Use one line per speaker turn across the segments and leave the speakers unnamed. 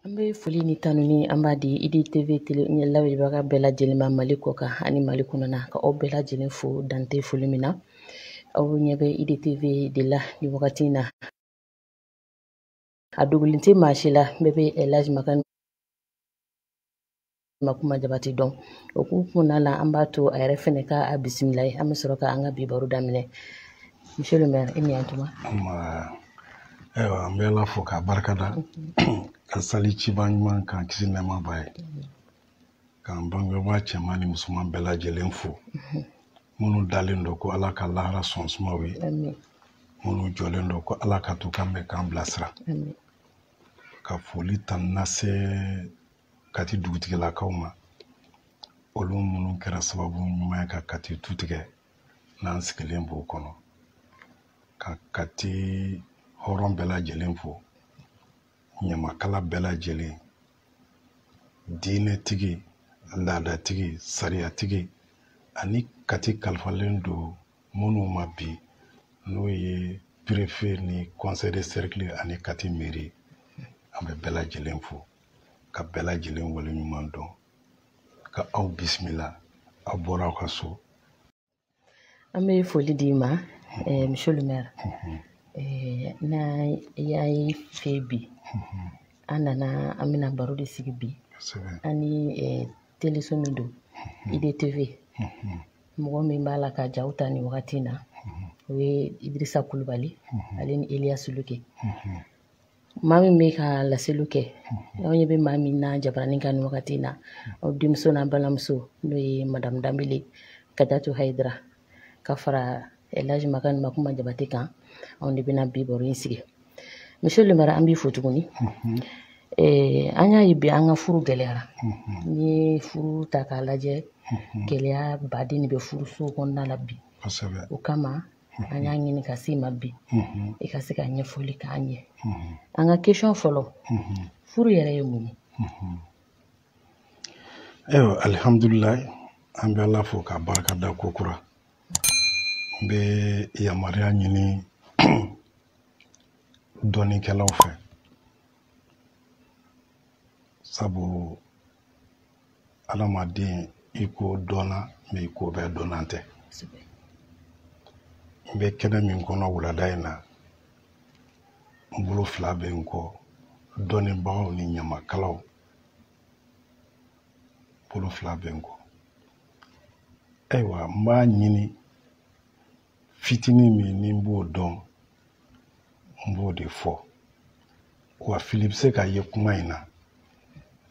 An bɛ foli ni tanuni an b'a di idi TV tele ɲɛ lamɛnbaga bɛɛ lajɛlen ma Mali kɔ kan ani Mali kɔnɔna ka aw bɛɛ lajɛlen fo dan tɛ foli min na aw ɲɛ bɛ idi TV de la nin wagati in na a dogolen tɛ maa si la bɛɛ bɛ elaji makan makuma jabate dɔn o k'u kunna la an b'a to a yɛrɛ fɛnɛ ka a bisimila ye an bɛ sɔrɔ ka an ka bi baro daminɛ monsieur le maire i ni yantuma
ayiwa an bɛ ala fo k'a barika da ka sali ciba ɲuman kan kisi nɛɛma b'a ye k'an bangebaa cɛman ni musoman bɛɛ lajɛlen fo mhm. minnu dalen don ko ala ka lahara so suma u
ye minnu jɔlen
don ko ala ka to kan bɛ k'an bilasira
ka
foli tanu lase kati dugutigilakaw ma olu minnu kɛra sababu ɲuman ye ka kati tu tigɛ n'an sigilen b'o kɔnɔ ka kati hɔrɔn bɛɛ lajɛlen fo ɲamakala bɛɛ lajɛlen diinɛtigi laadatigi sariyatigi ani kati kalifalen don minnu ma bi n'o ye perefe ni conseil de cercle ani kati meri an bɛ bɛɛ lajɛlen fo ka bɛɛ lajɛlen waleɲuman dɔn ka aw bisimila aw bɔra aw ka so
an bɛ foli d'i ma eh, monsieur le maire eh, n'i y'an ye i fɛ bi an nana an bɛna baro de sigi bi an ni eh, teleso min don idtv mɔgɔ min b'a la ka jaw ta nin wagati in na o ye idirisa kulubali ale ni eliyasi luke maa min bɛ ka laseliw kɛ aw ɲɛ bɛ maa min na jabaranin kan nin wagati in na aw denmuso n'a balimamuso n'o ye madamu danbele kajatu hayidara ka fara elaji makan makuma jabate kan anw de bɛna bi baro in sigi monsieur le maire an b'i fo tuguni mhm. eh, an y'a ye bi an ka furu gɛlɛyara mhm. n'i ye furu ta k'a lajɛ mhm. gɛlɛya baden de bɛ furusow kɔnɔna la bi o kama an y'a ɲini ka s'i ma bi i ka se ka ɲɛfɔli k'an ye an ka kesɔn fɔlɔ furu yɛrɛ ye mun ye ayiwa alihamdulilayi
an bɛ ala fo k'a barika da ko kura n bɛ yamaruya ɲini dɔnnikɛlaw fɛ sabu adamaden i ko dɔnna bɛ i ko bɛɛ dɔnna tɛ n bɛ kɛnɛ min kɔnɔ wulada in na n bolo fila bɛ n kɔ dɔnnibagaw ni ɲamakalaw bolo fila bɛ n kɔ ayiwa n b'a ɲini fitinin min ni n b'o dɔn n b'o de fɔ wa fili bɛ se ka ye kuma in na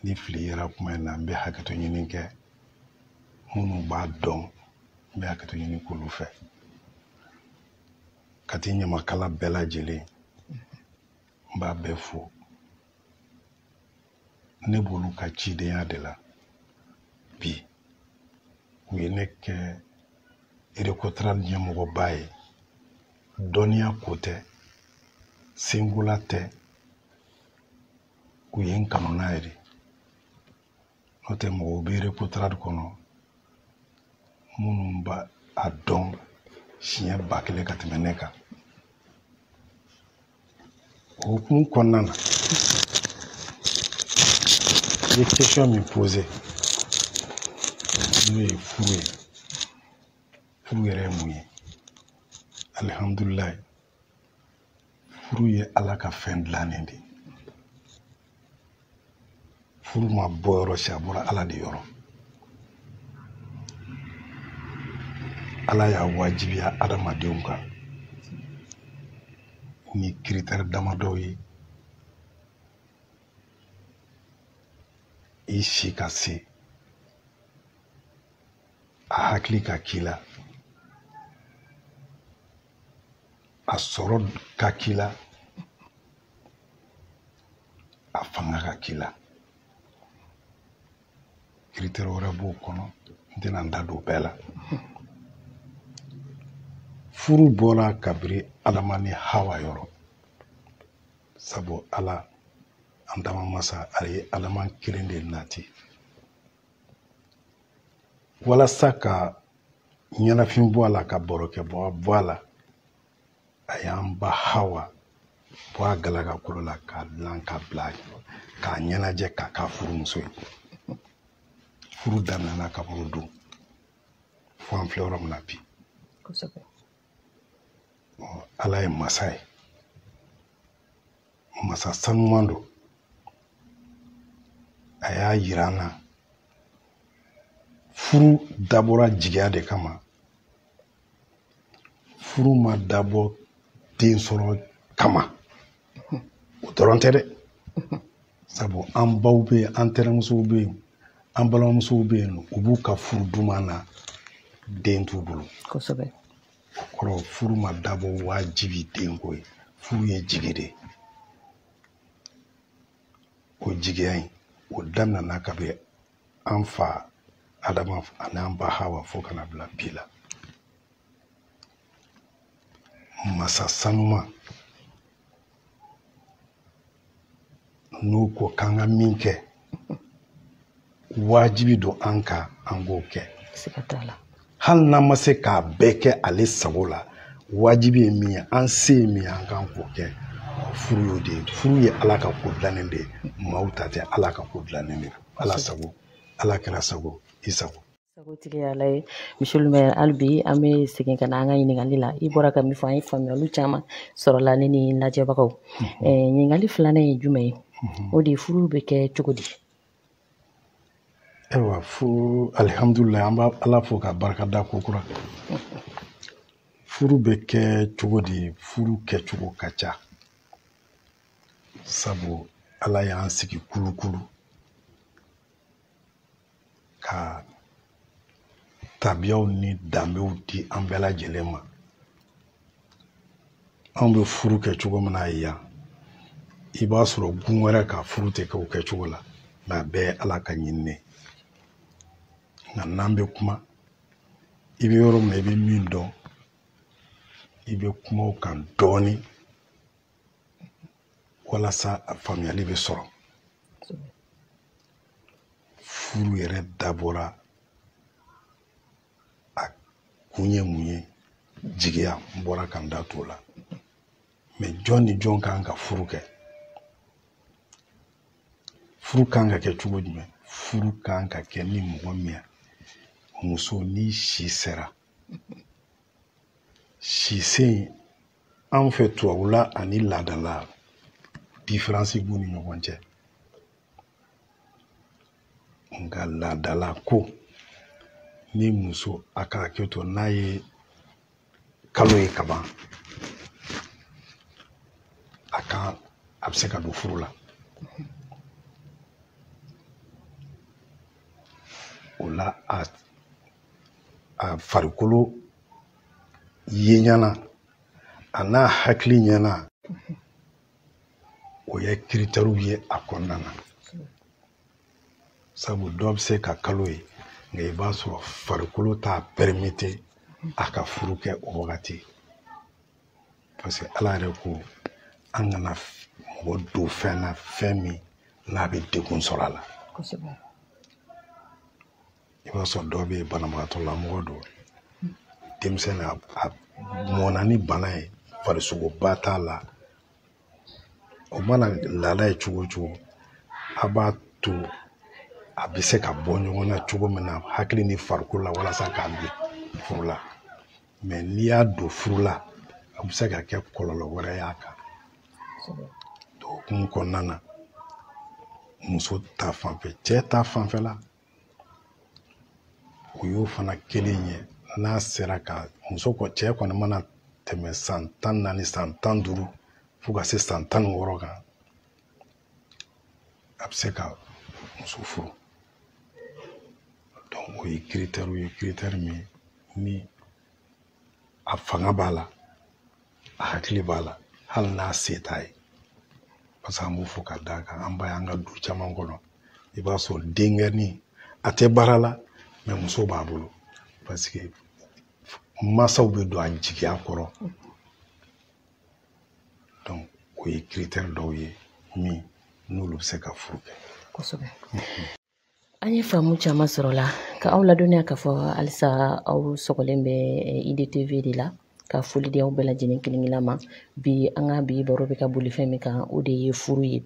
ni fili yera kuma in na n bɛ hakɛto ɲini kɛ minnu b'a dɔn n bɛ hakɛto ɲini k'olu fɛ kati ɲamakala bɛɛ lajɛlen n b'a bɛɛ fo ne b'olu ka cidenya de la bi u ye ne kɛ recotrade ɲɛmɔgɔba ye dɔnniya ko tɛ senkola tɛ u ye n kanu n'a ye de n'o tɛ mɔgɔw bɛ recotrade kɔnɔ minnu b'a dɔn siɲɛ ba kelen ka tɛmɛ ne kan o hukumu kɔnɔna na i ye question min posé n'o ye furu ye furu yɛrɛ ye mun ye alihamdulilayi furu ye ala ka fɛn dilannen de ye furu ma bɔ yɔrɔ si a bɔra ala de yɔrɔ ala y'a wajibiya adamadenw kan ni critère damadɔw ye i si ka se a hakili ka k'i la a sɔrɔ ka k'i la a fanga ka k'i la critère wɛrɛ b'o kɔnɔ n tɛna n da don bɛɛ la furu bɔra kabiri adama ni hawa yɔrɔ sabu ala an danbaa masa a ye adama kelen de nati walasa ka ɲɛnafin bɔ a la ka barokɛbaa bɔ a la a y'an ba hawa bɔ a galaka kolo la k'a dilan k'a bila k'a ɲɛnajɛ k'a k'a furumuso ye furu daminɛna kabiri o don fo an filɛ yɔrɔ min na bi kosɛbɛ ala ye masa ye masa sanuman don a y'a yira an na furu dabɔra jigiya de kama furu ma dabɔ den sɔrɔ kama o dɔrɔn tɛ dɛ sabu an baw bɛ yen an tɛnɛmusow bɛ yen an balimamusow bɛ yen u b'u ka furu duman na den t'u bolo
kosɛbɛ o
kɔrɔ furu ma dabɔ wajibi denko ye furu ye jigi de ye o jigiya in o daminɛna kabini an fa adama ani an ba hawa fo ka na bila bi la masa sanuma n'o ko k'an ka min kɛ wajibi don an kan an k'o kɛ
hali n'an ma
se k'a bɛɛ kɛ ale sago la wajibi ye min ye an se ye min ye an kan k'o kɛ furu y'o de ye furu ye ala ka ko dilannen de ye maaw ta tɛ ala ka ko dilannen de ala sago ala kira sago i sago sagotigi y'ala
ye monsieur le maire hali bi an bɛ segin ka na an ka ɲininkali la i bɔra ka min fɔ an ye faamuyali caman sɔrɔla ne ni lajɛbagaw mhm. eh, ɲininkali filanan ye jumɛn ye mhm. o de ye furu bɛ kɛ cogo di
ayiwa fo alihamdulilayi an b'ala fo ka barika da kokura furu bɛ kɛ cogo di furu kɛcogo ka ca sabu ala y'an sigi kulukulu ka tabiyaw ni danbew di an bɛɛ lajɛlen ma anw bɛ furu kɛ cogo min na yan i b'a sɔrɔ gun wɛrɛ ka furu tɛ kɛ o kɛcogo la nka a bɛɛ ye ala ka ɲinini ye nka n'an bɛ kuma i bɛ yɔrɔ min na i bɛ min dɔn i bɛ kuma o kan dɔɔnin walasa a faamuyali bɛ sɔrɔ furu yɛrɛ dabɔra a kun ye mun ye jigiya n bɔra ka n da t'o la mais jɔn ni jɔn kan ka furu kɛ furu kan ka kɛ cogo jumɛn furu kan ka kɛ ni mɔgɔ min muso ni si sera si se anw fɛ tubabula ani laadala diferansi b'u ni ɲɔgɔn cɛ nka laadala ko ni muso a ka hakɛ to n'a ye kalo ye kaban a ka a bɛ se ka don furu la o la a a farikolo ye ɲɛna a n'a hakili ɲɛna o ye kiritɛriw ye a kɔnɔna na sabu dɔ bɛ se ka kalo ye nka i b'a sɔrɔ farikolo t'a pɛrimete a ka furu kɛ o wagati parce que ala yɛrɛ ko an kana mɔgɔ don fɛn na fɛn min n'a bɛ degun sɔrɔ a la i b'a sɔrɔ dɔw bɛ banabagatɔ la mɔgɔ don denmisɛn na a mɔnna ni bana ye farisogoba t'a la o mana laada ye cogo o cogo a b'a to a bɛ se ka bɔ ɲɔgɔn na cogo min na hakili ni farikolo la walasa k'a don furu la mais n'i y'a don furu la a bɛ se ka kɛ kɔlɔlɔ wɛrɛ y'a kan o hukumu kɔnɔna na muso ta fanfɛ cɛ ta fanfɛla o y'o fana kelen ye n'a sera ka muso cɛ kɔni mana tɛmɛ san tan naani san tan duuru fo ka se san tan ni wɔɔrɔ kan a bɛ se ka muso furu donc o ye kiritɛri ye kiritɛri min ni a fanga b'a la a hakili b'a la hali n'a se t'a ye parce que an b'o fɔ ka d'a kan an b'a y'an ka du caman kɔnɔ i b'a sɔrɔ denkɛnin a tɛ baara la mais muso b'a bolo parce que masaw bɛ don a jigiya kɔrɔ donc o ye kiritɛri dɔw ye min n'olu bɛ se
ka furu
kɛ kosɛbɛ
An
ye
faamu caman
sɔrɔ o
la ka aw ladɔnniya k'a fɔ halisa aw sɔgɔlen bɛ eh, IDTV de la ka foli di aw bɛɛ lajɛlen kelen kelen ma bi an ka bi baro bɛ ka boli fɛn min kan o de ye furu ye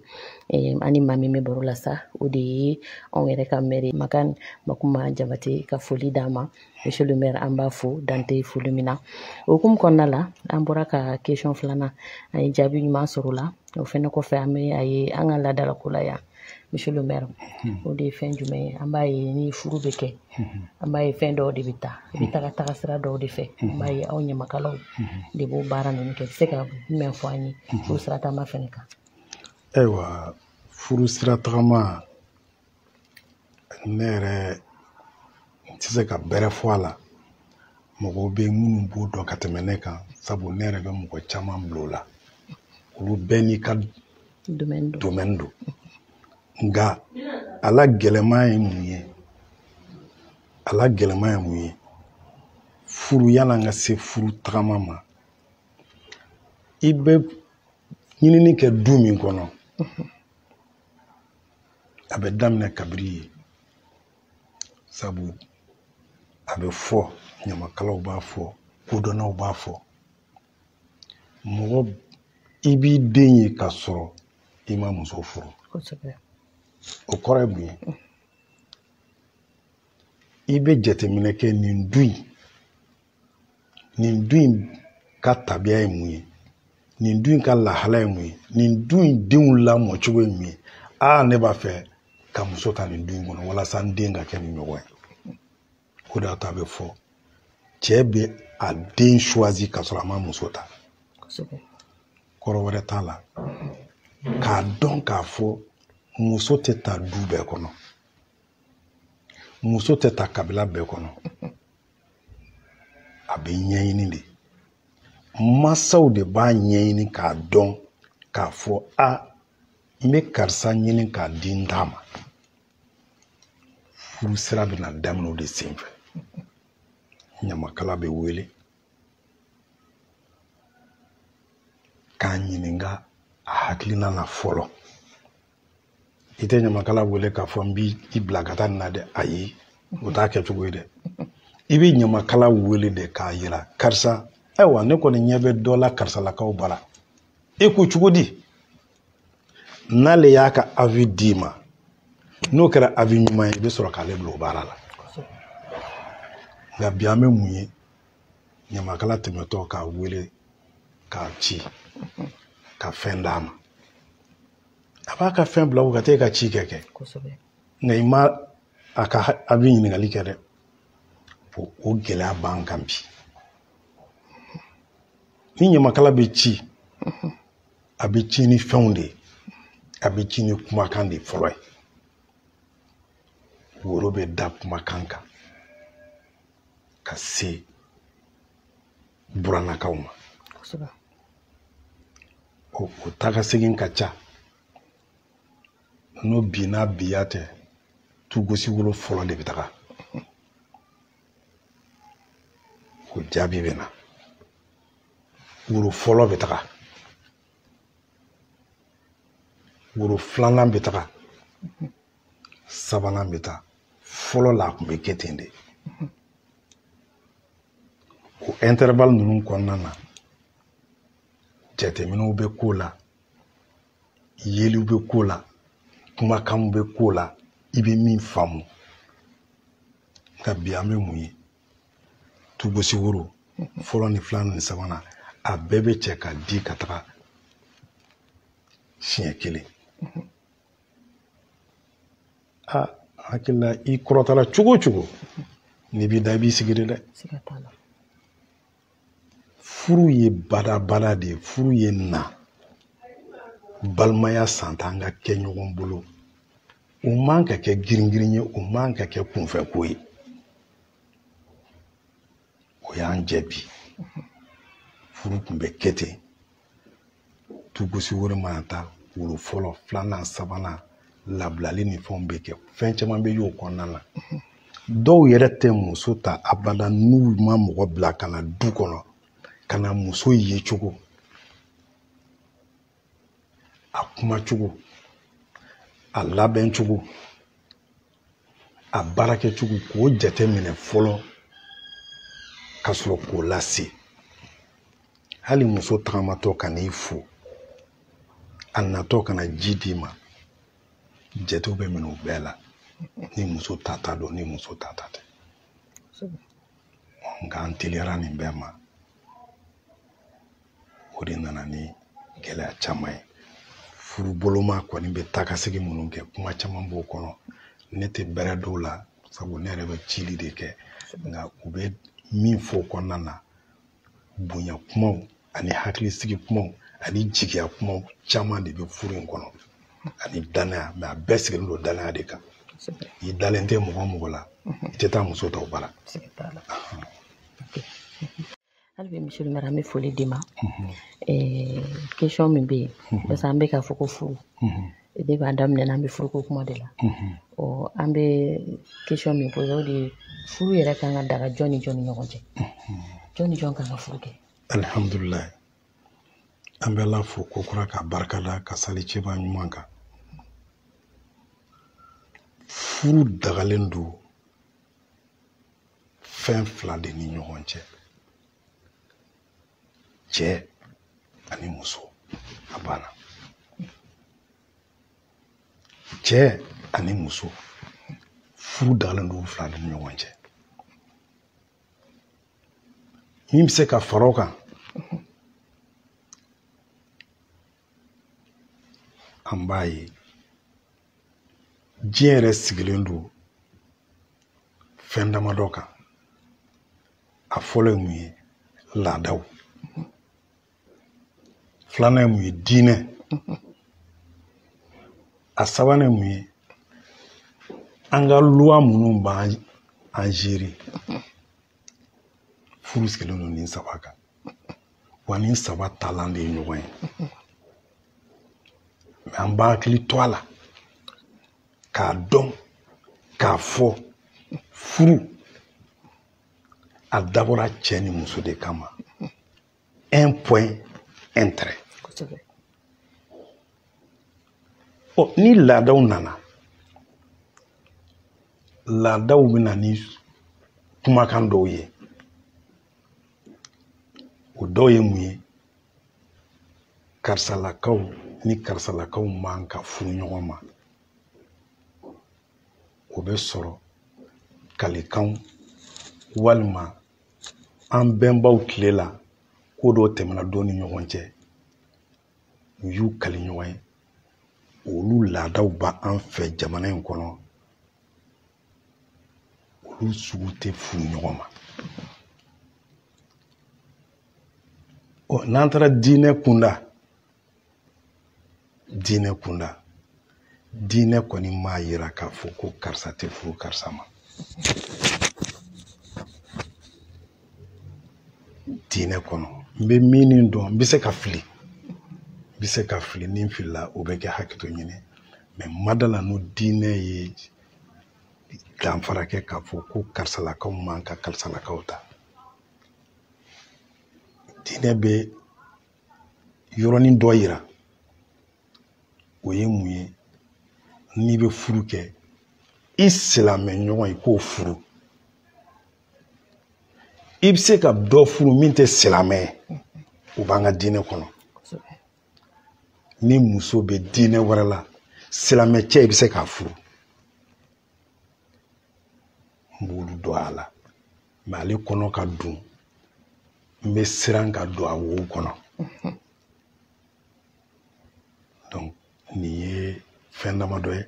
eh, an ni maa min bɛ baro la sa o de ye anw yɛrɛ ka mɛri makan makuma jabate ka foli d'a ma monsieur le maire an b'a fo dan tɛ foli min na o hukumu kɔnɔna la an bɔra ka question filanan an ye jaabi ɲuman sɔrɔ o la o fɛnɛ kɔfɛ an bɛ a ye an ka laadalako la yan monsieur le maire o de ye fɛn jumɛn ye an b'a ye ni furu bɛ kɛ an b'a ye fɛn dɔw de bɛ taa i bɛ taga taga sira dɔw de fɛ an b'a ye aw ɲamakalaw de b'o baara ninnu kɛ i bɛ se ka jumɛn fɔ an ye furu sira tagama fɛnɛ kan
ayiwa furu sira tagama ne yɛrɛ n tɛ se ka bɛrɛ fɔ a la mɔgɔw bɛ minnu b'o dɔn ka tɛmɛ ne kan sabu ne yɛrɛ bɛ mɔgɔ caman bila o la olu bɛɛ n'i ka domɛni don nka a la gɛlɛman ye mun ye a la gɛlɛman ye mun ye furu yan'an ka se furu tagama ma i bɛ ɲinini kɛ du min kɔnɔ a bɛ daminɛ kabiri yen sabu a bɛ fɔ ɲamakalaw b'a fɔ kodɔnnaw b'a fɔ mɔgɔ i b'i den ye ka sɔrɔ i ma muso furu o kɔrɔ ye mun ye i bɛ jateminɛ kɛ nin du in nin du in ka tabiya ye mun ye nin du in ka lahala ye mun ye nin du in denw lamɔ cogo ye mun ye aa ne b'a fɛ ka muso ta nin du in kɔnɔ walasa n den ka kɛ nin ɲɔgɔn ye o de y'a to a bɛ fɔ cɛ bɛ a den choisi ka sɔrɔ a ma muso ta kɔrɔ wɛrɛ t'a la k'a dɔn k'a fɔ muso tɛ ta du bɛɛ kɔnɔ muso tɛ ta kabila bɛɛ kɔnɔ a bɛ ɲɛɲini de mansaw de b'a ɲɛɲini k'a dɔn k'a fɔ a n bɛ karisa ɲini k'a di n ta ma furu sira bɛna daminɛ o de senfɛ ɲamakala bɛ wele k'a ɲininka a hakilina na fɔlɔ i tɛ ɲamakala wele k'a fɔ n b'i i bila ka taa nin na dɛ ayi o t'a kɛcogo ye dɛ i bɛ ɲamakala wele de k'a yira karisa ayiwa ne kɔni ɲɛ bɛ dɔ la karisalakaw bara e ko cogo di n'ale y'a ka avis d'i ma n'o kɛra avis ɲuman ye i bɛ sɔrɔ k'ale bila o baara la nka bi an bɛ mun ye ɲamakala tɛmɛtɔ k'a wele k'a ci ka fɛn d'a ma a b'a ka fɛn bila u ka taa e ka ci kɛ kɛ nka i ma a ka avis ɲininkali kɛ dɛ o gɛlɛya b'an kan bi ni ɲamakala bɛ ci mhm. a bɛ ci ni fɛnw de ye a bɛ ci ni kumakan de fɔlɔ ye woro bɛ da kumakan kan ka se burannakaw ma o taga segin ka ca n'o bi n'a biya tɛ tugosi woro fɔlɔ de bɛ taga o jaabi bɛ na woro fɔlɔ bɛ taga woro filanan bɛ taga sabanan bɛ taa fɔlɔ la a tun bɛ kɛ ten de o intervalle ninnu kɔnɔna na jateminɛw bɛ k'o la yeliw bɛ k'o la kumakanw bɛ k'o la i bɛ min faamu nka bi an bɛ mun ye tugosi woro fɔlɔ ni filanan ni sabanan a bɛɛ bɛ cɛ ka di ka taga siɲɛ kelen a hakili la i kɔrɔtɔla cogo o cogo n'i b'i da i b'i sigi de dɛ furu ye badabada de ye furu ye na balimaya san tan ka kɛ ɲɔgɔn bolo o man ka kɛ giringirin ye o man ka kɛ kunfɛ ko ye o y'an jɛ bi furu tun bɛ kɛ ten tugosi wɛrɛ mana taa woro fɔlɔ filanan sabanan labilali ni fɛnw bɛ kɛ fɛn caman bɛ y'o kɔnɔna na dɔw yɛrɛ tɛ muso ta abada n'u ma mɔgɔ bila ka na du kɔnɔ ka na muso ye cogo a kuma cogo a labɛn cogo a baara kɛcogo k'o jate minɛ fɔlɔ ka sɔrɔ k'o lase hali muso tagamatɔ ka n'i fo a natɔ ka na ji d'i ma jatew bɛ minɛ o bɛɛ la ni muso tata don ni muso tata tɛ nka an teliyara nin bɛɛ ma o de nana ni gɛlɛya caman ye furuboloma kɔni bɛ taakasegin minnu kɛ kuma caman b'o kɔnɔ ne tɛ bɛrɛ dɔn a la sabu ne yɛrɛ bɛ cili de kɛ nka u bɛ min fɔ o kɔnɔna na bonya kumaw ani hakilisigi kumaw ani jigiya kumaw caman de bɛ furu in kɔnɔ ani danaya mɛ a bɛɛ sigilen don danaya de kan i dalen tɛ mɔgɔ o mɔgɔ la i tɛ taa muso ta o bara
hali bi monsieur le maire an bɛ foli d'i ma question min bɛ yen parce que an bɛ k'a fɔ ko furu de b'a daminɛ n'an bɛ furuko kuma de la ɔ an bɛ question min posé o de ye furu yɛrɛ kan ka daga jɔn ni jɔn ni ɲɔgɔn cɛ jɔn ni jɔn kan ka furu kɛ
alihamdulilayi an bɛ ala fo ko kura k'a barika da ka sali cɛba ɲuman kan furu dagalen don fɛn fila de ni ɲɔgɔn cɛ cɛ ani muso a banna cɛ ani muso furu dagalen don fila de ni ɲɔgɔn cɛ min bɛ se ka fara o kan an b'a ye diɲɛ yɛrɛ sigilen don fɛn damadɔ kan a fɔlɔ ye mun ye laadaw filanan ye mun ye diinɛ a sabanan ye mun ye an ka loi minnu b'an gérer furu sigilen don nin saba kan wa nin saba talan de ye ɲɔgɔn ye mɛ an b'an hakili to a la k'a dɔn k'a fɔ furu a dabɔra cɛ ni muso de kama un point un trait ɔ ni laadaw nana laadaw bɛ na ni kumakan dɔw ye o dɔw ye mun ye karisalakaw ni karisalakaw man ka furu ɲɔgɔn ma o bɛ sɔrɔ kalikanw walima an bɛnbaw tile la ko dɔ tɛmɛna dɔ ni ɲɔgɔn cɛ u y'u kali ɲɔgɔn ye olu laadaw b'an fɛ jamana in kɔnɔ olu sugu tɛ furu ɲɔgɔn ma ɔ n'an taara diinɛ kunda diinɛ kunda diinɛ kɔni m'a yira k'a fɔ ko karisa tɛ furu karisa ma diinɛ kɔnɔ n bɛ min dɔn n bɛ se ka fili n bɛ se ka fili ni n filila o bɛ kɛ hakɛto ɲini mɛ n ma da a la n'o diinɛ ye danfara kɛ k'a fɔ ko karisalakaw man ka karisalakaw ta diinɛ bɛ yɔrɔnin dɔ yira o ye mun ye n'i bɛ furu kɛ i silamɛ ɲɔgɔn i k'o furu i bɛ se ka dɔ furu min tɛ silamɛ ye o b'an ka diinɛ kɔnɔ ni muso bɛ diinɛ wɛrɛ la silamɛ cɛ i bɛ se k'a furu n b'olu dɔn a la mɛ ale kɔnɔ ka dun n bɛ siran ka don a wo kɔnɔ donc nin ye fɛn damadɔ ye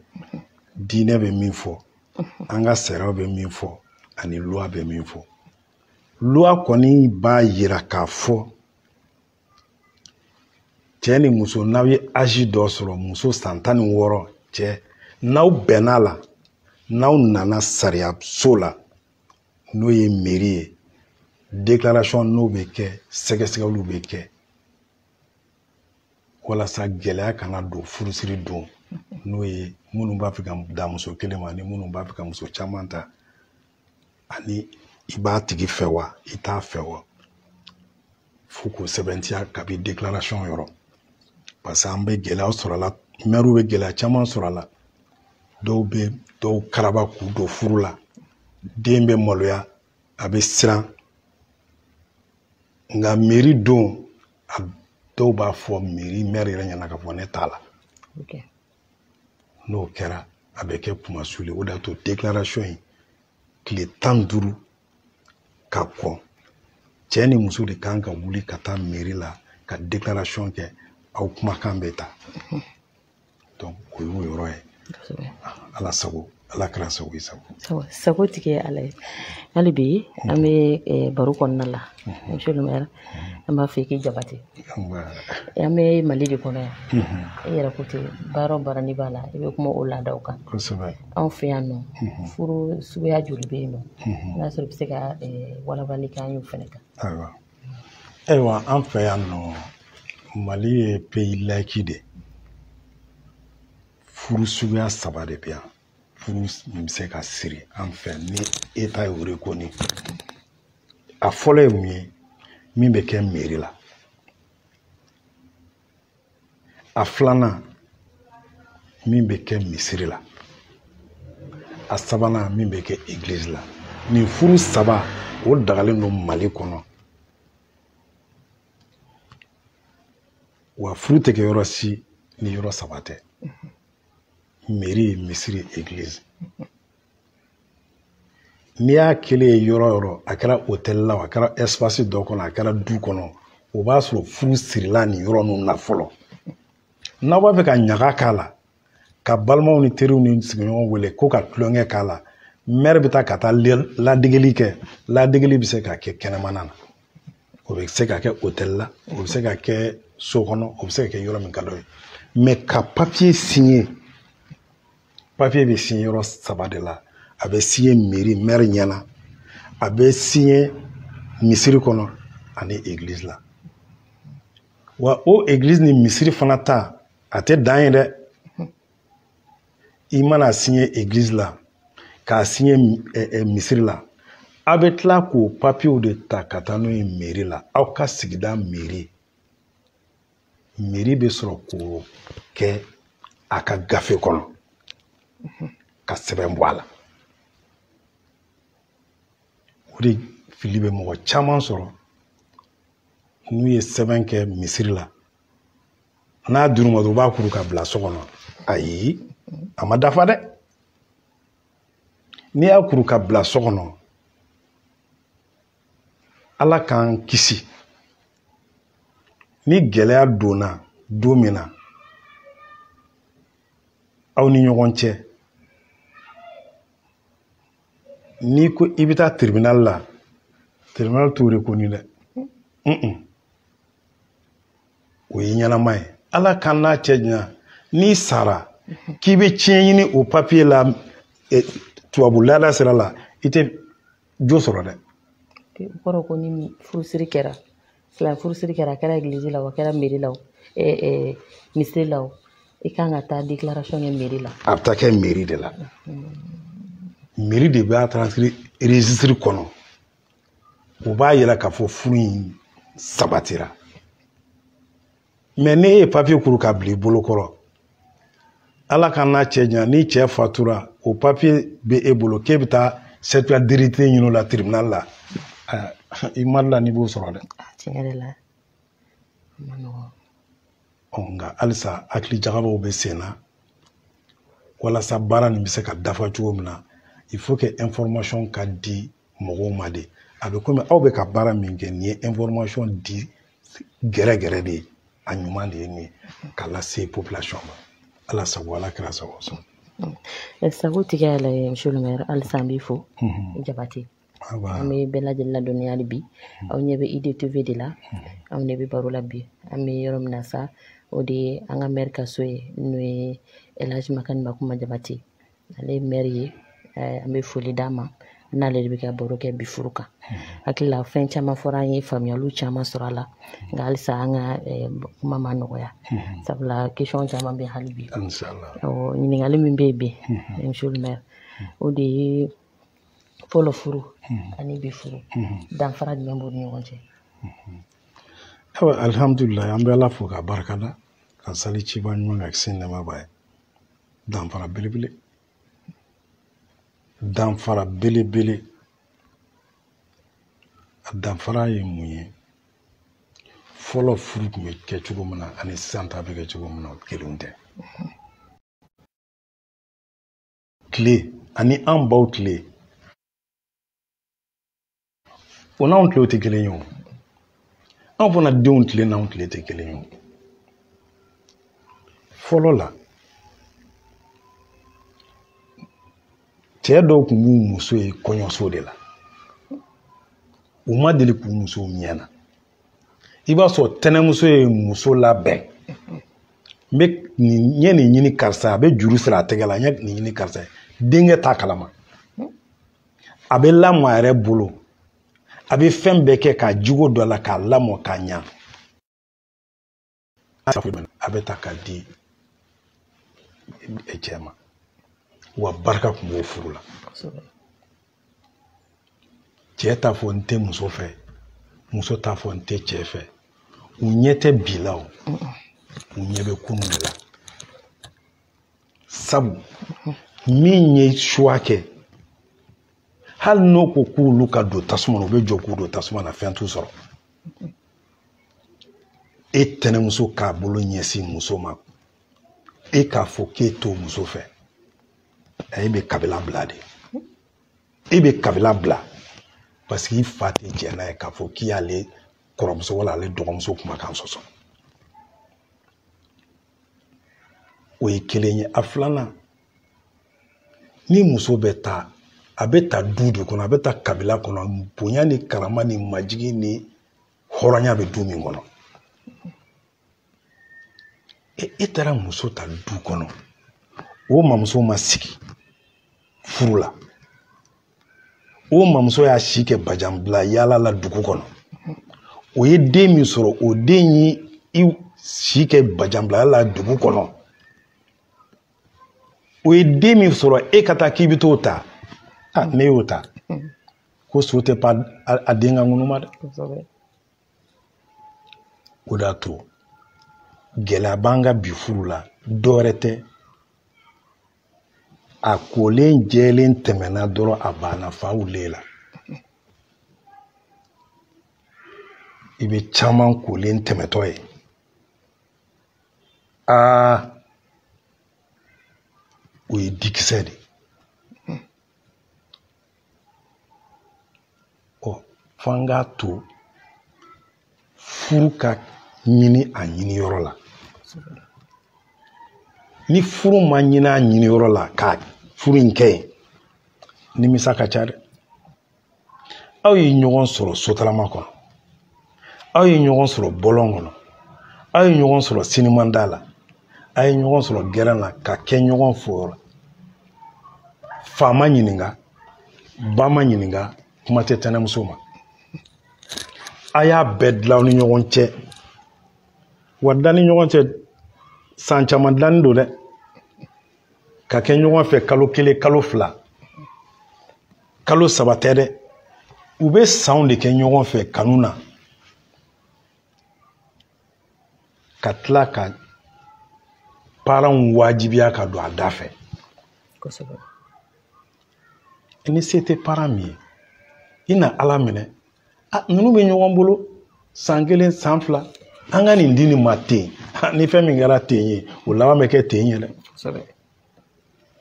diinɛ bɛ min fɔ an ka sariyaw bɛ min fɔ ani luwa bɛ min fɔ luwa kɔni b'a yira k'a fɔ cɛ ni muso n'aw ye azi dɔ sɔrɔ muso san tan ni wɔɔrɔ cɛ n'aw bɛnn'a la n'aw nana sariyaso la n'o ye meri ye déclaration n'o bɛ kɛ sɛgɛsɛgɛliw bɛ kɛ walasa gɛlɛya kana don furusiri don n'o ye minnu b'a fɛ ka dan muso kelen ma ni minnu b'a fɛ ka muso caman ta ani i b'a tigi fɛ wa i t'a fɛ wa fo k'o sɛbɛntiya kabi deklarasɔn yɔrɔ parce que an bɛ gɛlɛya sɔrɔ a la mɛriw bɛ gɛlɛya caman sɔrɔ a la dɔw bɛ dɔw karaba k'u don furu la den bɛ maloya a bɛ siran nka meri don a dɔw b'a fɔ meri mɛri yɛrɛ ɲɛ na k'a fɔ ne t'a la n'o kɛra a bɛ kɛ kunmasuli o de y'a to deklarasɔn in tile tan ni duuru ka kɔn cɛ ni muso de kan ka wuli ka taa meri la ka deklarasɔn kɛ aw kumakan bɛ ta donc o y'o yɔrɔ ye ala sago ala kɛra sago ye sago sago tigi ye
ala ye hali bi an bɛ eh, baro kɔnɔna la monsieur le maire an b'a fɔ i k'i jabate an bɛ mali de kɔnɔ yan i yɛrɛ ko ten baara o baara n'i b'a la i bɛ kuma o laadaw kan anw fɛ yan nɔ furu suguya joli bɛ yen nɔ n'a sɔrɔ i bɛ se ka eh, walawalali kɛ an y'o fana kan ayiwa
an fɛ yan nɔ mali ye pays laïque de furu suguya saba de bɛ yan furu min bɛ se ka siri an fɛ ni eta y'o reconnu a fɔlɔ ye mun ye min bɛ kɛ meri la a filanan min bɛ kɛ misiri la a sabanan min bɛ kɛ egilizi la nin furu saba o dagalen don mali kɔnɔ wa furu tɛ kɛ yɔrɔ si ni yɔrɔ saba tɛ meri misiri egilizi n'i y'a kɛlen ye yɔrɔ yɔrɔ a kɛra hotɛli la a kɛra ɛsipasi dɔ kɔnɔ a kɛra du kɔnɔ o b'a sɔrɔ furu sirila nin yɔrɔ ninnu na fɔlɔ n'aw b'a fɛ ka ɲaga k'a la ka balimaw ni teriw ni sigiɲɔgɔnw wele ko ka tulonkɛ k'a la mɛri bɛ taa ka taa ladegeli kɛ ladegeli bɛ se ka kɛ kɛnɛmana na o bɛ se ka kɛ otɛli la o bɛ se ka kɛ so kɔnɔ o bɛ se ka kɛ yɔrɔ min ka d'aw ye mɛ ka papiye siɲɛ papiye bɛ siɲɛ yɔrɔ saba de la a bɛ siɲɛ meri mɛri ɲɛ na a bɛ siɲɛ misiri kɔnɔ ani egilizi la wa o egilizi ni misiri fana ta a tɛ dan yen dɛ i man'a siɲɛ egilizi la k'a siɲɛ misiri la aw bɛ tila k'o papiyew de ta ka taa n'o ye meri la aw ka sigida meri meri bɛ sɔrɔ k'o kɛ a ka gafe kɔnɔ ka sɛbɛn bɔ a la o de fili bɛ mɔgɔ caman sɔrɔ n'u ye sɛbɛn kɛ misiri la n'a dir'u ma u b'a kuru ka bila so kɔnɔ ayi a ma dafa dɛ n'i y'a kuru ka bila so kɔnɔ ala k'an kisi ni gɛlɛya donna don min na aw ni ɲɔgɔn cɛ n'i ko i bɛ taa tiribinali la tiribinali t'o reconnu dɛ o ye ɲɛnama ye ala k'an n'a cɛ janya n'i sara k'i bɛ ciyɛn ɲini o papiye la e, tubabu laada sira la i tɛ jo sɔrɔ dɛ o kɔrɔ
ko ni furusiri kɛra silamɛ furusiri kɛra a kɛra egilizi la o a kɛra meri la o e, e, misiri la o i kan ka taa declaration kɛ meri la a bɛ taa kɛ meri de
la meri de b'a transcrire registre kɔnɔ o b'a yira k'a fɔ furu in sabatira mɛ n'i ye papiye kuru ka bila i bolo kɔrɔ ala k'an n'a cɛ janya ni cɛ fatura o papiye bɛ e bolo k'e bɛ taa certificat d'hérédité ɲini o la tribunal la i mari la n'i b'o sɔrɔ
dɛ nka
halisa hakili jagabɔw bɛ sen na walasa baara nin bɛ se ka dafa cogo min na il faut que information ka di mɔgɔw ma de a bɛ komi aw bɛ ka baara min kɛ nin ye information di gɛrɛgɛrɛ de ye a ɲuman de ye nin ye k'a lase population ma ala sago ala kira sago sɔn eh,
sago tigi yɛrɛ ye monsieur le maire halisa an b'i fo mhm. jabate an bɛ bɛɛ lajɛlen ladɔnniya hali bi mhm. aw ɲɛ bɛ idtv de la mhm. anw de bɛ baro la bi an bɛ yɔrɔ min na sa o de ye an ka maire ka so ye n'o ye elhaji makani makuma jabate ale ye mɛri ye eh, an bɛ foli d'a ma n'ale de bɛ ka baro kɛ bi furu kan hakili la fɛn caman fɔra an ye faamuyaliw caman sɔrɔ a la nka halisa an ka eh, kuma ma nɔgɔya sabula question caman bɛ hali bi ɲininkali min bɛ yen bi monsieur le maire o de ye fɔlɔ furu ani bi furu danfara jumɛn b'u ni ɲɔgɔn cɛ awa
alhamdulilayi an bɛ ala fo k'a barikada ka sali ciba ɲuman kan kisi nɛɛma b'a ye danfara belebele danfara belebele a danfara ye mun ye fɔlɔ furu tun bɛ kɛ cogo min na ani sisan ta bɛ kɛ cogo min na o kelen tɛ tile ani an baw tile o n'anw tile tɛ kelen ye o anw fana denw tile n'anw tile tɛ kelen ye o fɔlɔ la cɛ dɔw tun b'u muso ye kɔɲɔso de la u ma deli k'u muso ɲɛ na i b'a sɔrɔ tɛnɛmuso ye muso labɛn n bɛ nin n ye nin ɲini karisa a bɛ juru siri a tɛgɛ la n ye nin ɲini karisa ye denkɛ t'a kalama a bɛ lamɔ a yɛrɛ bolo a bɛ fɛn bɛɛ kɛ ka jogo don a la k'a lamɔ k'a ɲa a bɛ ta k'a di cɛ ma wa barika tun b'o furu la cɛ t'a fɔ n tɛ muso fɛ muso t'a fɔ n tɛ cɛ fɛ u ɲɛ tɛ bi la o u ɲɛ bɛ kunun de la sabu min ye choix kɛ hali n'o ko k'olu ka don tasuma na u bɛ jɔ k'u don tasuma na fɛn t'u sɔrɔ e tɛnɛmuso k'a bolo ɲɛsin muso ma e k'a fɔ k'e t'o muso fɛ e bɛ kabila bila de e bɛ kabila bila parce que i fa tɛ jɛ n'a ye k'a fɔ k'i y'ale kɔrɔmuso wala ale dɔgɔmuso kumakan sɔsɔ o ye kelen ye a filanan ni muso bɛ ta a bɛ ta du de kɔnɔ a bɛ ta kabila kɔnɔ bonya ni karama ni majigi ni hɔrɔnya bɛ du min kɔnɔ e, e taara muso ta du kɔnɔ o mamuso ma sigi furu la o mamuso y'a si kɛ bajanbila yaala la dugu kɔnɔ o ye den min sɔrɔ o den ye i si kɛ bajanbila yaala la dugu kɔnɔ o ye den min sɔrɔ e ka taa k'i bɛ t'o ta a n'e y'o ta ko so tɛ pan a den ka ŋunuma dɛ o de y'a to gɛlɛya b'an ka bi furu la dɔwɛrɛ tɛ a kolen jɛlen tɛmɛna dɔrɔn a banna fa wulilen la i bɛ caman kolen tɛmɛtɔ ye aa o ye dikisɛ de ɔ fo an k'a to furu ka ɲini a ɲini yɔrɔ la ni furu ma ɲini a ɲini yɔrɔ la ka furu in kɛ yen nimisa ka ca dɛ aw ye ɲɔgɔn sɔrɔ sotarama kɔnɔ aw ye ɲɔgɔn sɔrɔ bɔlɔn kɔnɔ aw ye ɲɔgɔn sɔrɔ sinimada la a ye ɲɔgɔn sɔrɔ gɛrɛn na ka kɛ ɲɔgɔn fɛ fa ma ɲininka ba ma ɲininka kuma tɛ tɛnɛmuso ma a y'a bɛɛ dilan ni ɲɔgɔn cɛ wa dilan ni ɲɔgɔn cɛ san caman dilanni don dɛ ka kɛ ɲɔgɔn fɛ kalo kelen kalo fila kalo saba tɛ dɛ u bɛ sanw de kɛ ɲɔgɔn fɛ kanu na ka tila ka paranw wajibiya ka don a da fɛ ni se tɛ paran min ye i na ala minɛ a ninnu bɛ ɲɔgɔn bolo san kelen san fila an ka nin di nin ma ten ni fɛn min kɛra ten ye o laban bɛ kɛ ten ye dɛ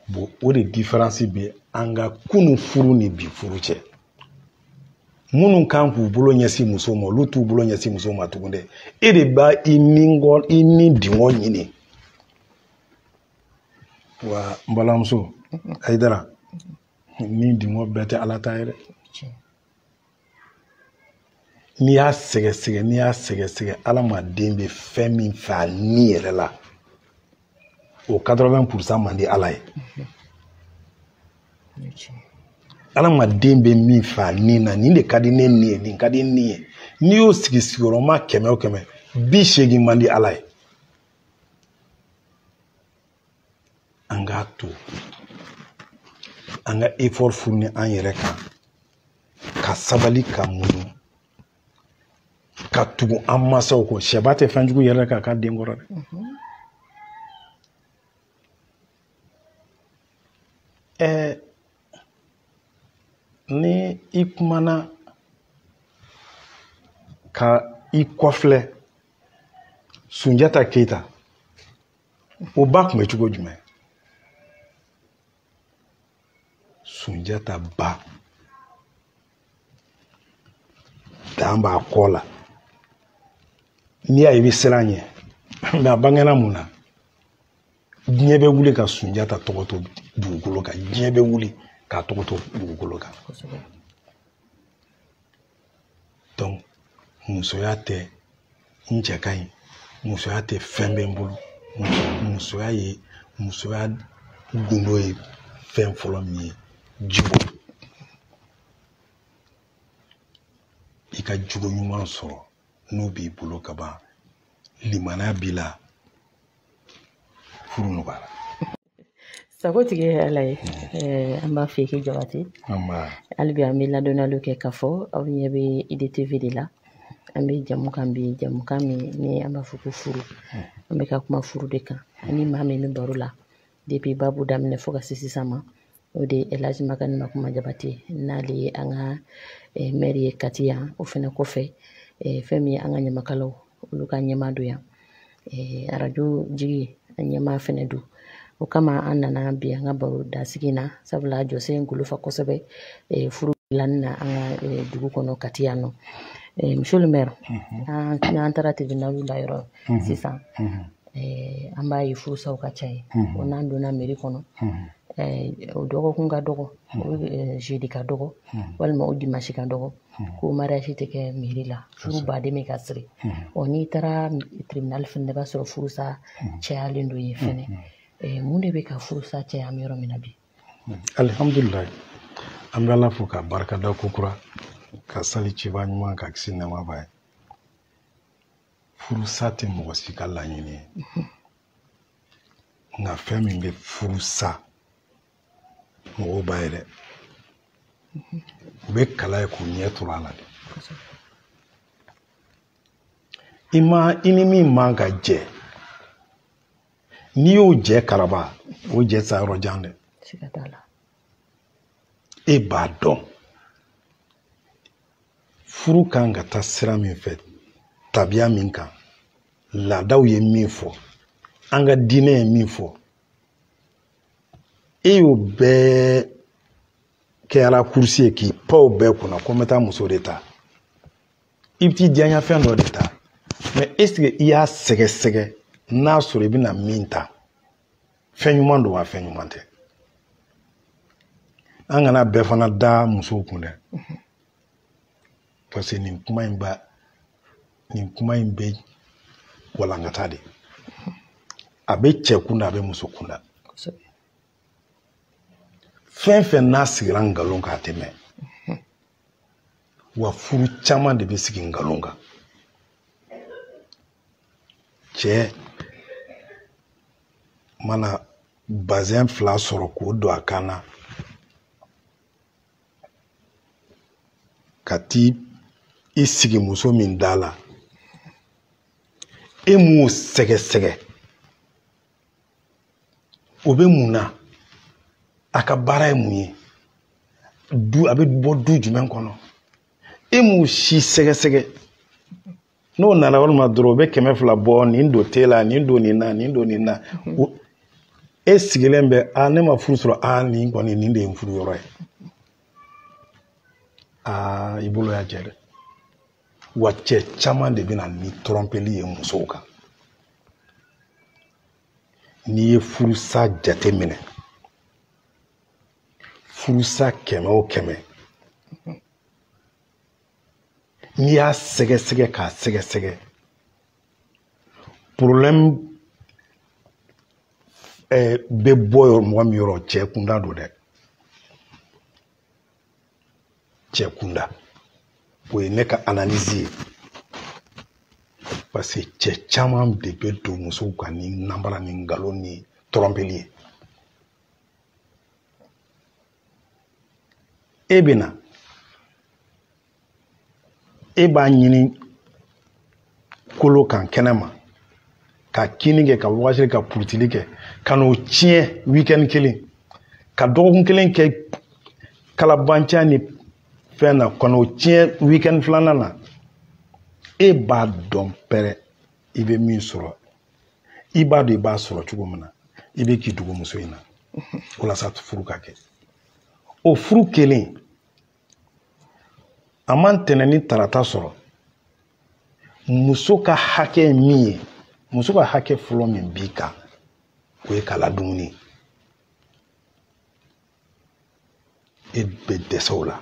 bon o de diferansi bɛ an ka kunun furu ni bi furu cɛ minnu kan k'u bolo ɲɛsin muso ma olu t'u bolo ɲɛsin muso ma tugun dɛ e de b'a i nidungɔ ɲini wa n balimamuso ayidara nidungɔ bɛɛ tɛ ala ta ye dɛ n'i y'a sɛgɛsɛgɛ n'i y'a sɛgɛsɛgɛ adamaden bɛ fɛn min fɛ a ni yɛrɛ la o 80 pour cent man di ala ye adamaden bɛ min fɛ a ni na nin de ka di ne ni ye nin ka di ni ye n'i y'o sigi sigiyɔrɔma kɛmɛ o kɛmɛ bi seegin man di ala ye an k'a to an ka effort fourni an yɛrɛ kan ka sabali ka muɲu ka tugu an masaw kɔ sɛba tɛ fɛn jugu yɛrɛk'a ka den kɔrɔ dɛ ɛɛ ni i kumana ka i kɔfilɛ sunjata keyita o ba kun bɛ cogo jumɛn sunjata ba dan b'a kɔ la n'i y'a ye i bɛ siran ɲɛ mɛ a bangena mun na diɲɛ bɛ wuli ka sunjata tɔgɔ to dugukolo kan diɲɛ bɛ wuli k'a tɔgɔ to dugukolo kan musoya tɛ n cɛ ka ɲi musoya tɛ fɛn bɛ n bolo musoya ye musoya gundo ye fɛn fɔlɔ min ye jogo i ka jogo ɲuman sɔrɔ n'o b'i bolo ka ban limaniya b'i la furu nɔgɔyara
sagotigi ye ala ye an b'a fɛ k'i jabati hali bi an bɛ ladɔnniyali kɛ k'a fɔ aw ɲɛ bɛ idtv de la an bɛ jɛmukan bi jɛmukan min ni an b'a fɔ ko furu an bɛ ka kuma furu de kan ani maa min bɛ baro la depuis babu daminɛ fo ka se sisan ma o de ye elhaji makani makuma jabate n'ale ye an ka eh, mɛri ye kati yan o fɛnɛ kɔfɛ eh, fɛn min ye an ka ɲamakalaw olu ka ɲɛmaa don yan eh, arajo jigiya ɲɛmaa fɛnɛ don o kama an nana bi an ka baro dasigi na sabula jɔsen golofa kosɛbɛ furu dilanni na an ka dugu kɔnɔ kati yan nɔ monsieur le maire mhm. an taara tribunal la yɔrɔ mhm. sisan mhm. an b'a ye furusaw ka ca yen o n'an donna mairie kɔnɔ o dɔgɔkun ka dɔgɔ jeudi ka dɔgɔ walima o dimasi ka dɔgɔ ko mariage tɛ kɛ mairie la furu ba de bɛ ka siri ɔ n'i taara tribunal fɛnɛ na i b'a sɔrɔ furusa cayalen don yen fɛnɛ mun de bɛ ka furusa caya an bɛ yɔrɔ min na bi
alihamdulilayi an bɛ ala fo ka barika da ko kura ka sali ciba ɲuman kan kisi nɛɛma b'a ye furusa tɛ mɔgɔ si ka laɲini ye nka fɛn min bɛ furu sa mɔgɔw b'a ye dɛ u bɛ k'a lajɛ k'u ɲɛ turu a la de i ma i ni min man ka jɛ n'i y'o jɛ karaba o jɛ sa yɔrɔ jan dɛ e b'a dɔn furu kan ka taa sira min fɛ tabiya min kan laadaw ye min fɔ an ka diinɛ ye min fɔ e y'o bɛɛ kɛ ala kurusi ye k'i pan o bɛɛ kunna ko n bɛ taa muso de ta i bɛ t'i diyaɲa fɛn dɔ de ta mais est-ce que i y'a sɛgɛsɛgɛ n'a sɔrɔ i bɛna min ta fɛn ɲuman don wa fɛn ɲuman tɛ an kana bɛɛ fana da musow kun dɛ parce que nin kuma in ba nin kuma in bɛ walankata de a bɛ cɛ kunda a bɛ muso kunda fɛn fɛn n'a sigira nkalon kan a tɛ mɛɛn wa furu caman de bɛ sigi nkalon kan cɛ mana bazɛn fila sɔrɔ k'o don a kan na ka t'i i sigi muso min da la e m'o sɛgɛsɛgɛ o bɛ mun na a ka baara ye mun ye du a bɛ bɔ du jumɛn kɔnɔ e m'o si sɛgɛsɛgɛ n'o nana walima dɔrɔn o bɛ kɛmɛ fila bɔ nin don te la nin don nin na nin don nin na mhm. e sigilen bɛ a ne ma furu sɔrɔ a nin kɔni nin de ye n furu yɔrɔ ye aa i bolo y'a jɛ dɛ wa cɛ caman de bɛ na ni tɔrɔmpeli ye musow kan n'i ye furusa jate minɛ furusa kɛmɛ o kɛmɛ n'i y'a sɛgɛsɛgɛ k'a sɛgɛsɛgɛ problème eh, bɛ bɔ mɔgɔ min yɔrɔ cɛ kunda don dɛ cɛ kunda o ye ne ka analyse ye parce que cɛ caman de bɛ don musow kan ni nanbara ni nkalon ni tɔrɔnpeli ye e bɛ na e b'a ɲini kolo kan kɛnɛ ma ka kinni kɛ ka wagasili ka purutili kɛ ka n'o tiɲɛ wikɛni kelen ka dɔgɔkun kelen kɛ kalabanciya ni fɛn na ka n'o tiɲɛ wikɛni filanan na e b'a dɔn pɛrɛ i bɛ min sɔrɔ i b'a dɔn i b'a sɔrɔ cogo min na i bɛ k'i dogo muso in na walasa furu ka kɛ o furu kelen a ma ntɛnɛn ni tarata sɔrɔ muso ka hakɛ min ye muso ka hakɛ fɔlɔ min b'i kan o ye k'a ladumuni e bɛ dɛsɛ o la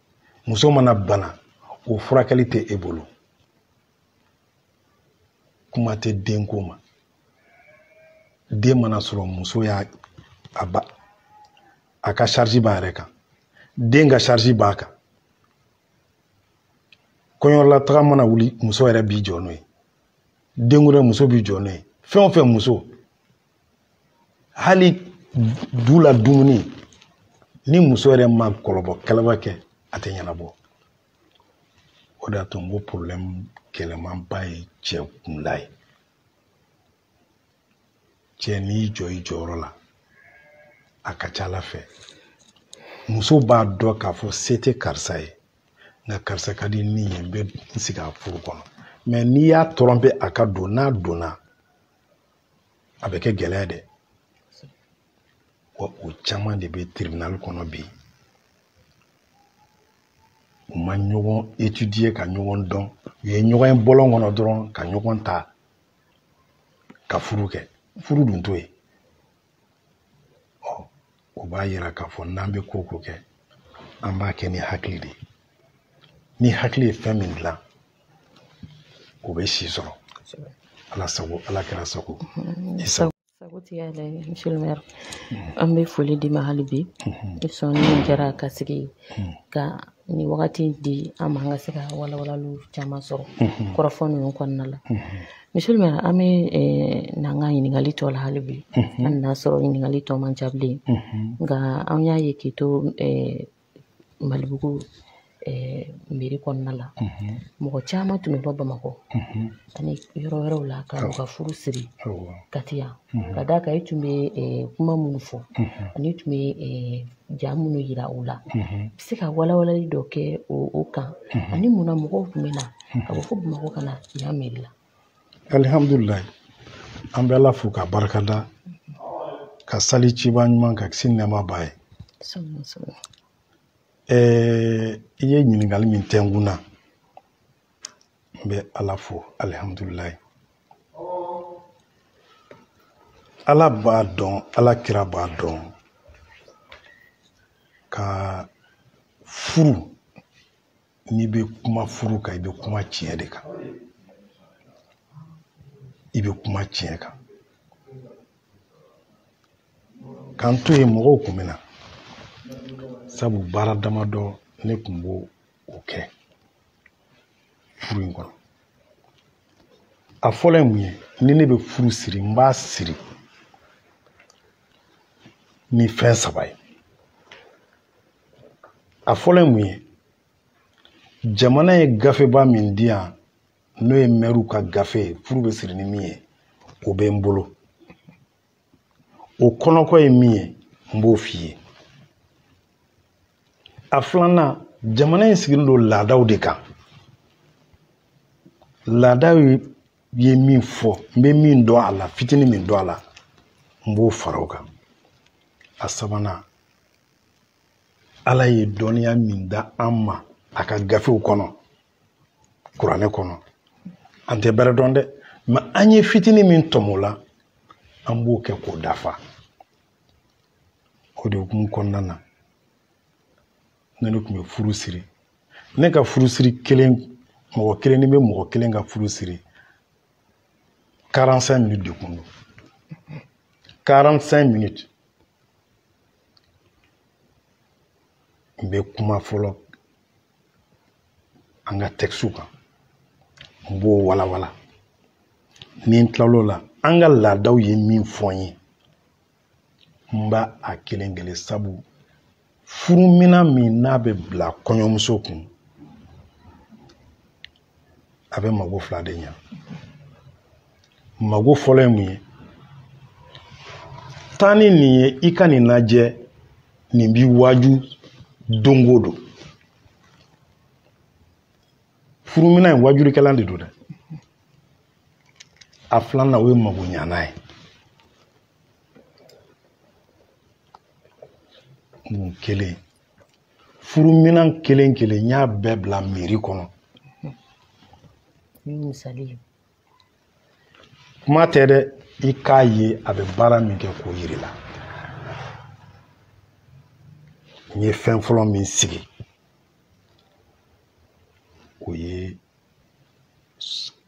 muso mana bana o furakɛli tɛ e bolo kuma tɛ denko ma den mana sɔrɔ muso y'a a ka sarisi b'a yɛrɛ kan den ka sarisi b'a kan kɔɲɔlataga mana wuli muso yɛrɛ b'i jɔ n'o ye denkundi muso b'i jɔ n'o ye fɛn o fɛn muso hali du la dumuni ni muso yɛrɛ ma kɔlɔbɔ kalaba kɛ a tɛ ɲɛnabɔ o de y'a to n ko porobilɛmu gɛlɛmanba ye cɛ kunda ye cɛ n'i jɔ i jɔyɔrɔ la a ka ca ala fɛ muso b'a dɔn k'a fɔ se tɛ karisa ye nka karisa ka di ne ye n bɛ n sigi a furu kɔnɔ mɛ n'i y'a tɔrɔnpe a ka don n'a donna a bɛ kɛ gɛlɛya dɛ wa o caman de bɛ tribunal kɔnɔ bi u ma ɲɔgɔn étudier ka ɲɔgɔn dɔn u ye ɲɔgɔn ye bɔlɔn kɔnɔ dɔrɔn ka ɲɔgɔn ta ka furu kɛ furu dun t'o ye ɔ o b'a yira k'a fɔ n'an bɛ ko o ko kɛ an b'a kɛ ni hakili de ye ni hakili ye fɛn min dilan o bɛ si sɔrɔ ala sago ala kira sago i sago
sagotigi y'ala ye monsieur le maire an bɛ foli d'i ma hali bi i sɔnni min kɛra ka sigi ka ni wagati di an ma an ka se ka walawalaliw caman sɔrɔ kɔrɔfɔ ninnu kɔnɔna la monsieur le maire an bɛ n'an ka ɲininkali tɔ la hali bi an n'a sɔrɔ ɲininkali tɔ man ca bilen nka an y'a ye k'i to malibugu mɛri kɔnɔna la mɔgɔ caman tun bɛ bɔ bamakɔ ani yɔrɔ wɛrɛw la ka u ka furu siri kati yan ka d'a kan i tun bɛ kuma minnu fɔ an'i tun bɛ ja minnu yira u la i bɛ se ka walawalali dɔ kɛ o kan ani munna mɔgɔw tun bɛ na ka bɔ fo bamakɔ ka na yan mɛri la alihamdulilayi
an bɛ ala fo ka barika da ka sali ciba ɲuman kan kisi nɛɛma b'a ye i ye ɲininkali min kɛ n kun na n bɛ ala fo alihamudulilayi ala b'a dɔn ala kira b'a dɔn ka furu n'i bɛ kuma furu kan i bɛ kuma tiɲɛ de kan i bɛ kuma tiɲɛ kan ka n to yen mɔgɔw kun bɛ na sabu baara damadɔ ne kun b'o kɛ furu in kɔnɔ a fɔlɔ ye mun ye ni ne bɛ furu siri n b'a siri ni fɛn saba ye a fɔlɔ ye mun ye jamana ye gafeba min di yan n'o ye mɛriw ka gafe ye furu bɛ siri ni min ye o bɛ n bolo o kɔnɔko ye min ye n b'o f'i ye a filanan jamana in sigilen don laadaw de kan laadaw ye min fɔ n bɛ min dɔn a la fitinin min dɔn a la n b'o fara o kan a sabanan ala ye dɔnniya min d'an ma a ka gafew kɔnɔ kuranɛ kɔnɔ an tɛ bɛrɛ dɔn dɛ mɛ an ye fitinin min tɔmɔ a la an b'o kɛ k'o dafa o de hukumu kɔnɔna na ne ne tun bɛ furu siri ne ka furu siri kelen mɔgɔ kelen ni n bɛ mɔgɔ kelen ka furu siri 45 minutes de kun don 45 minutes n bɛ kuma fɔlɔ an ka tɛkisiw kan n b'o walawala ni n tilal'o la an ka laadaw ye min fɔ n ye n b'a a kelen kelen sabu furuminan min n'a bɛ bila kɔɲɔmuso kun a bɛ mako fila de ɲa mako fɔlɔ ye mun ye taa ni nin ye i ka nin lajɛ nin b'i waaju don o don furuminan ye waajurikɛlan de don dɛ a filanan o ye makoɲanan ye mun kelen furuminan kelen kelen n y'a bɛɛ bila miiri kɔnɔ kuma tɛ dɛ i k'a ye a bɛ baara min kɛ k'o yir'i la n ye fɛn fɔlɔ min sigi o ye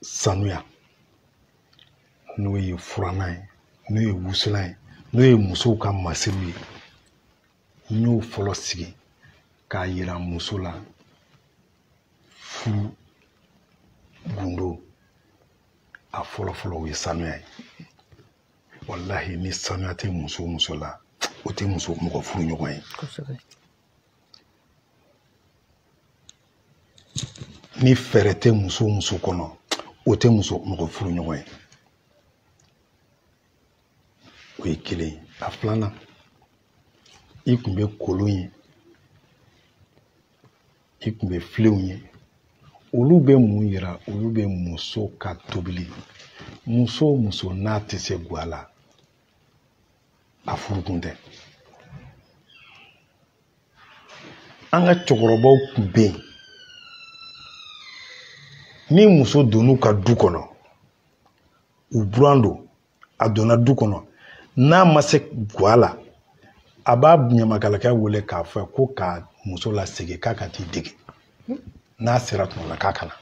sanuya n'o ye furannan ye n'o ye wusulan ye n'o ye musow ka masiriw ye n y'o fɔlɔ sigi k'a yira muso la furu gundo a fɔlɔ fɔlɔ o ye sanuya ye walahi ni sanuya tɛ muso o muso la o tɛ muso mɔgɔ furuɲɔgɔn ye ni fɛɛrɛ tɛ muso o muso kɔnɔ o tɛ muso mɔgɔ furuɲɔgɔn ye o ye kelen ye a filanan i kun bɛ kolon ye i kun bɛ filenw ye olu bɛ mun yira olu bɛ muso ka tobili muso o muso n'a tɛ se gwa la a furukun tɛ an ka cɛkɔrɔbaw kun bɛ yen ni muso donn'u ka du kɔnɔ u buran don a donna du kɔnɔ n'a ma se gwa la a b'a ɲamakalakɛ wele k'a fɔ ko ka muso lasegin k'a ka t'i dege n'a sera tuma la k'a ka na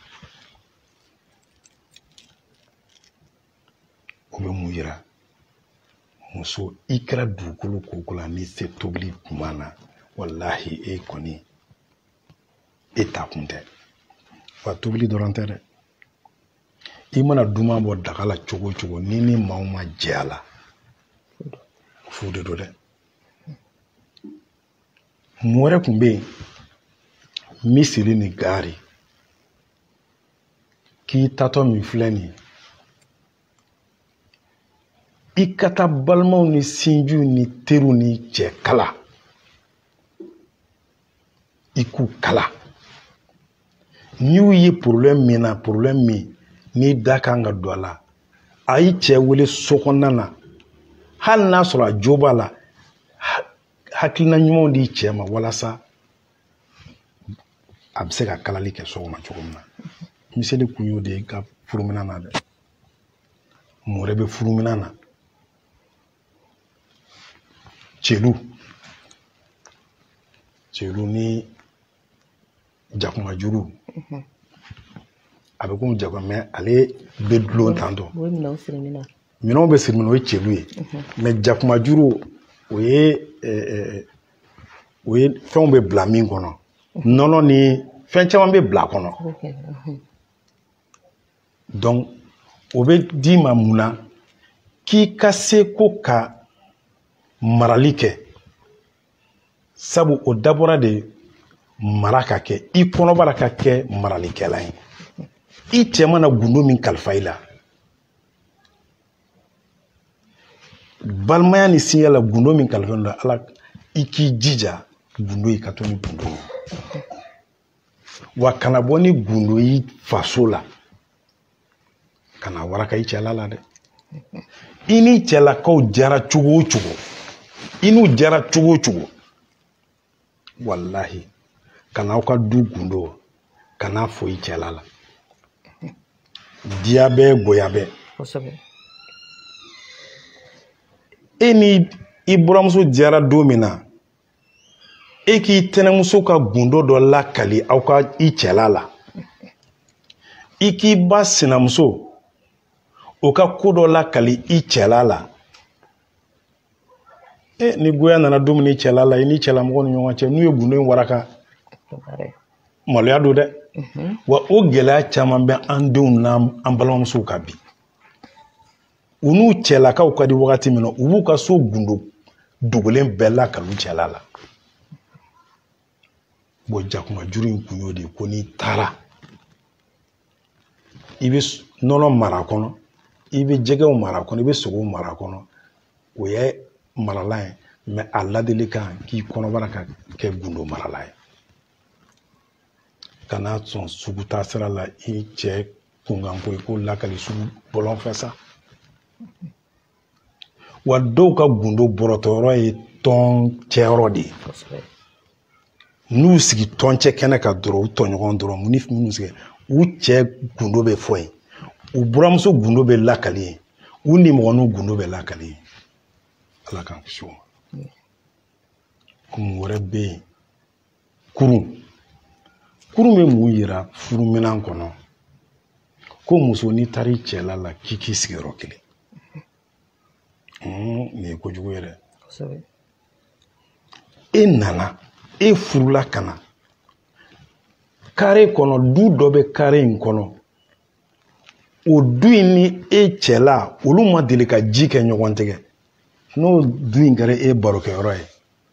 o bɛ mun yira muso i kɛra dugukolo ko o ko la n'i se tobili duman na walahi e kɔni i takun tɛ wa tobili dɔrɔn tɛ dɛ i mana duman bɔ daga la cogo o cogo ni ni maaw ma jɛ a la fu de don dɛ mun wɛrɛ tun bɛ yen miseli ni gaari k'i taatɔ min filɛ nin ye i ka taa balimaw ni sinjiw ni teriw ni cɛ kala i k'u kala n'i y'u ye porobilɛmu min na porobilɛmu min n'i da ka kan ka don a la a y'i cɛ wele so kɔnɔna na hali n'a sɔrɔ a jo b'a la hakilina ɲumanw di cɛ ma walasa a bɛ se ka kalali kɛ so kɔnɔ cogo min na miseli kun y'o de y'i ka furuminan na dɛ mun wɛrɛ bɛ furuminan na celu celu ni jakumajuru mhm. a bɛ komi jakuma mɛ ale bɛ dulon tan tɔ minɛnw bɛ siri min na o ye celu ye mhm. mɛ jakumajuru o ye o ye fɛnw bɛ bila min kɔnɔ mhm. nɔnɔ ni fɛn caman bɛ bila a kɔnɔ donc o bɛ d'i ma mun na k'i ka se ko ka marali kɛ sabu o dabɔra de mara ka kɛ i kɔnɔbara ka kɛ maralikɛla ye i cɛ mana gundo min kalifa i la balimaya ni sinya la gundo min kalifa i la ala i k'i jija gundo i ka to ni gundo ye wa kana bɔ ni gundo y'i faso la ka n'a waraka i cɛla la dɛ i n'i cɛlakaw diyara cogo o cogo i n'u diyara cogo o cogo walahi kana aw ka du gundo kan'a fɔ i cɛla la diya bɛ goya bɛ e ni i buranmuso diyara don min na e k'i tɛnɛmuso ka gundo dɔ lakali aw ka i cɛla la i k'i ba sinamuso o ka ko dɔ lakali i cɛla la ni goya nana don min i cɛla la i n'i cɛlamɔgɔ ni ɲɔgɔn cɛ n'u ye gundo in waraka maloya don dɛ mhm. wa o gɛlɛya caman bɛ an denw n'an balimamusow kan bi u n'u cɛlakaw ka di wagati min na u b'u ka so gundo dogolen bɛɛ lakali u cɛla la bɔn jakumajuru in kun y'o de ye ko n'i taara i bɛ nɔnɔ mara a kɔnɔ i bɛ jɛgɛw mara a kɔnɔ i bɛ sogow mara a kɔnɔ o ye marala ye mɛ a ladilikan k'i kɔnɔbara ka kɛ gundo marala ye kana sɔn sugu taa sira la i cɛ kunkanko i k'o lakali sugu bɔlɔn fɛ sa wa dɔw ka gundo bɔrɔtɔyɔrɔ ye tɔncɛyɔrɔ de ye n'u sigi tɔncɛkɛnɛ kan dɔrɔn u tɔɲɔgɔn dɔrɔn ni minnu sigi u cɛ gundo bɛ fɔ yen u buranmuso gundo bɛ lakali yen u nimɔgɔninw gundo bɛ lakali yen ala k'an kisi o ma kun wɛrɛ bɛ yen kurun kurun bɛ mun yira furuminan kɔnɔ ko muso n'i taara i cɛla la k'i k'i sigi yɔrɔ kelen nin ye kojugu ye dɛ e nana e furula ka na kare kɔnɔ du dɔ bɛ kare in kɔnɔ o du in ni e cɛla olu ma deli ka ji kɛ ɲɔgɔn tɛgɛ n'o du in kɛra e barokɛyɔrɔ ye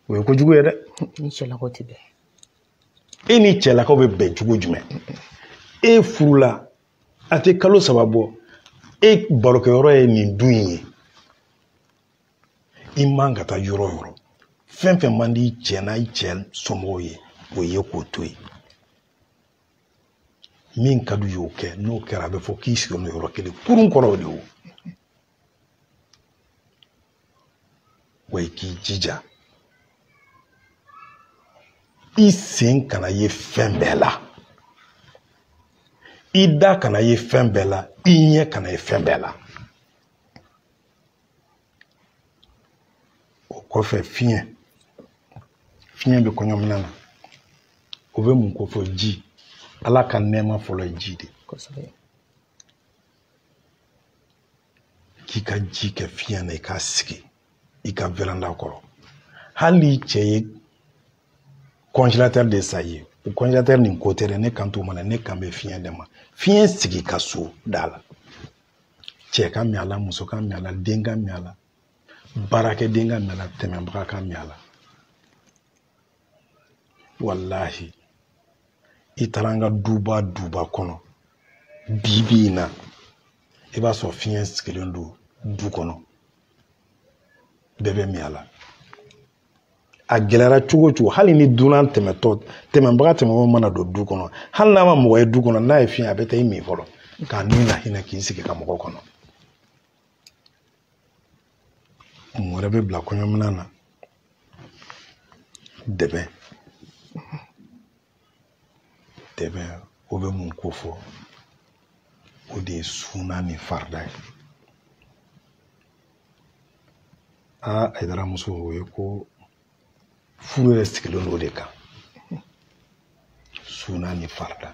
o ye kojugu ye dɛ ni cɛlakaw
tɛ
bɛn e ni cɛlakaw bɛ bɛn cogo jumɛn e furula a tɛ kalo saba bɔ e barokɛyɔrɔ ye nin du in ye i man ka taa yɔrɔ o yɔrɔ fɛn fɛn man di i cɛ n'a i cɛ somɔgɔw ye o ye k'o to yen min ka d'u ye o kɛ n'o kɛra a bɛ fɔ k'i sigilen don yɔrɔ kelen kurun kɔrɔ o de ye o wa i k'i jija i sen kana ye fɛn bɛɛ la i da kana ye fɛn bɛɛ la i ɲɛ kana ye fɛn bɛɛ la o kɔfɛ fiɲɛ fiɲɛ bɛ kɔɲɔminan na o bɛ mun ko fɔ ji ala ka nɛɛma fɔlɔ ye ji de k'i ka ji kɛ fiɲɛ na i k'a sigi i ka veranda kɔrɔ hali n'i cɛ ye congélateur de san i ye o congélateur nin ko tɛ dɛ ne kan t'o ma dɛ ne kan bɛ fiɲɛ de ma fiɲɛ sigi i ka so da la cɛ ka min a la muso ka min a la den ka min a la baarakɛden ka min a la tɛmɛbaga ka min a la walahi i taara an ka duba duba kɔnɔ bi bi in na i b'a sɔrɔ fiɲɛ sigilen don du kɔnɔ bɛɛ bɛ min a la a gɛlɛyara cogo o cogo hali ni dunan tɛmɛtɔ tɛmɛbaga tɛmɛbagaw mana don du kɔnɔ hali n'a ma mɔgɔ ye du kɔnɔ n'a ye fiɲɛ a bɛ taa i min fɔlɔ k'a ni lahinɛ k'i sigi ka mɔgɔ kɔnɔ mun wɛrɛ bɛ bila kɔɲɔminan na dɛbɛ dɛbɛ o bɛ mun ko fɔ o de ye suuna ni farida ye aa ayidara muso o ye ko furu yɛrɛ sigilen don o de kan suuna ni farida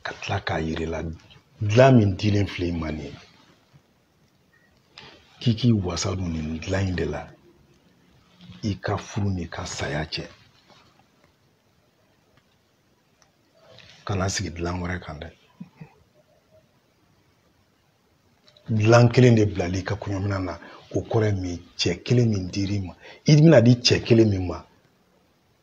ka tila k'a yir'i la dilan min dilen filɛ i ma nin ye k'i k'i wasa don nin dilan in de la i ka furu n'i ka saya cɛ kana sigi dilan wɛrɛ kan dɛ dilan kelen de bilal'i ka kɔɲɔminan na o kɔrɔ ye min cɛ kelen min dir'i ma i bɛna di cɛ kelen min ma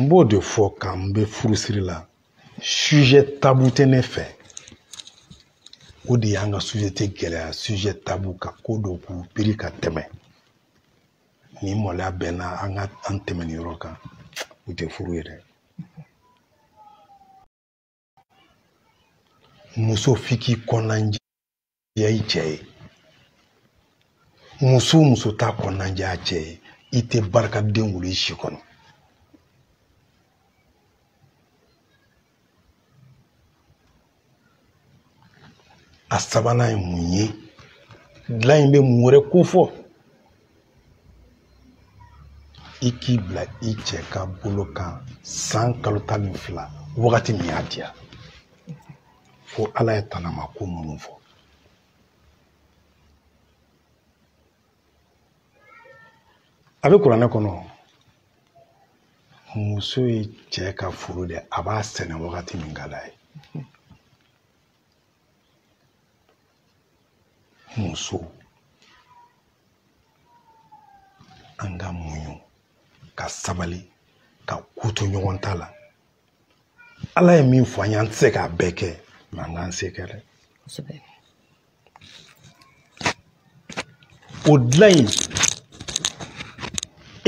n b'o de fɔ k'an bɛ furusiri la sujɛ tabu tɛ ne fɛ o de y'an ka sosiyete gɛlɛya sujɛ tabu ka ko dɔ k'u biri ka tɛmɛ ni maloya bɛnna an ka an tɛmɛni yɔrɔ kan o tɛ furu ye dɛ muso f'i k'i kɔnɔnajɛya i cɛ ye muso o muso t'a kɔnɔnajɛ a cɛ ye i tɛ barikaden wolo i si kɔnɔ a sabanan ye mun ye dilan in bɛ mun wɛrɛ ko fɔ i k'i bila i cɛ ka bolo kan san kalo tan ni fila wagati min y'a diya fo ala ye tanama ko minnu fɔ a bɛ kuranɛ kɔnɔ muso ye cɛ ka foro de a b'a sɛnɛ wagati min ka d'a ye muso an ka muɲu ka sabali ka ko to ɲɔgɔn ta la ala ye min fɔ an ye an tɛ se k'a bɛɛ kɛ mɛ an k'an se kɛ dɛ o dilan in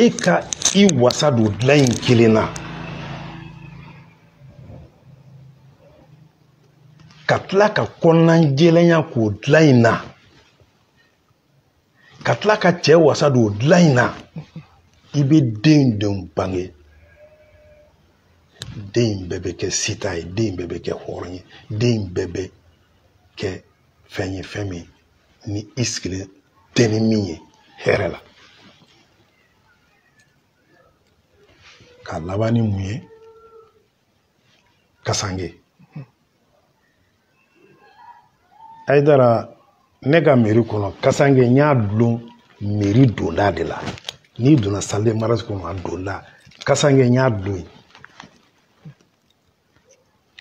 e ka i wasa don o dilan in kelen na ka tila ka kɔnɔnajɛlenya k'o dilan in na ka tila ka cɛ wasa don o dilan in na i bɛ den denw bange den bɛɛ bɛ kɛ sita ye den bɛɛ bɛ kɛ hɔrɔn ye den bɛɛ bɛ kɛ fɛn ye fɛn min ni i sigilen tɛ ni min ye hɛrɛ la ka laban ni mun ye kasange ayidara ne ka meri kɔnɔ kasange n y'a dulon meri donda de la n'i donna sali de mariyazi kɔnɔ a donda kasange n y'a dulon yen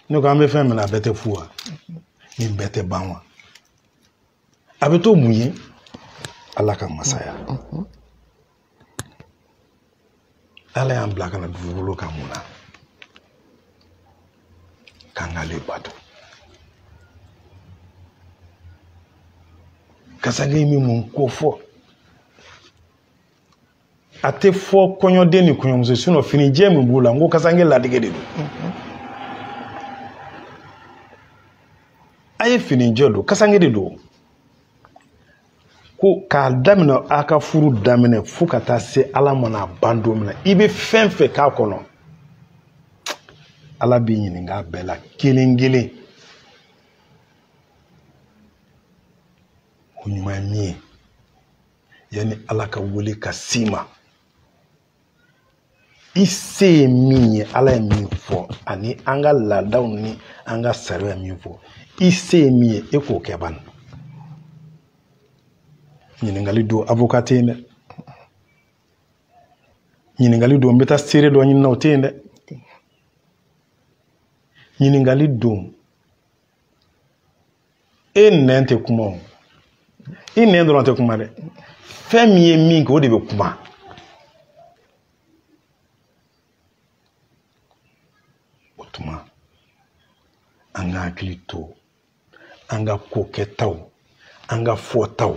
ne ko an bɛ fɛn min na a bɛɛ tɛ fu wa nin bɛɛ tɛ ban wa a bɛ to mun ye ala ka masaya ala y'an bila ka na dugukolo kan mun na k'an k'ale bato kasange bɛ mun ko fɔ a tɛ fɔ kɔɲɔden ni kɔɲɔmuso sinɔ finijɛ min b'u la n ko kasange ladege de don a ye finijɛ don kasange de don ko k'a daminɛ a ka furu daminɛ fo ka taa se ala mana ban don min na i bɛ fɛn fɛn k'a kɔnɔ ala b'i ɲininka a bɛɛ la kelen kelen o ɲuman ye min ye yanni ala ka wele ka s'i ma i se ye min ye ala ye min fɔ ani an ka laadaw ni an ka sariya ye min fɔ i se ye min ye e k'o kɛ ban ɲininkali don avoka tɛ yen dɛ ɲininkali don n bɛ taa seere dɔ ɲini na o tɛ yen dɛ ɲininkali don e nɛn tɛ kuma o i nɛn dɔrɔn tɛ kuma dɛ fɛn min ye min kɛ o de bɛ kuma o tuma an ka hakili to an ka ko kɛtaw an ka fɔtaw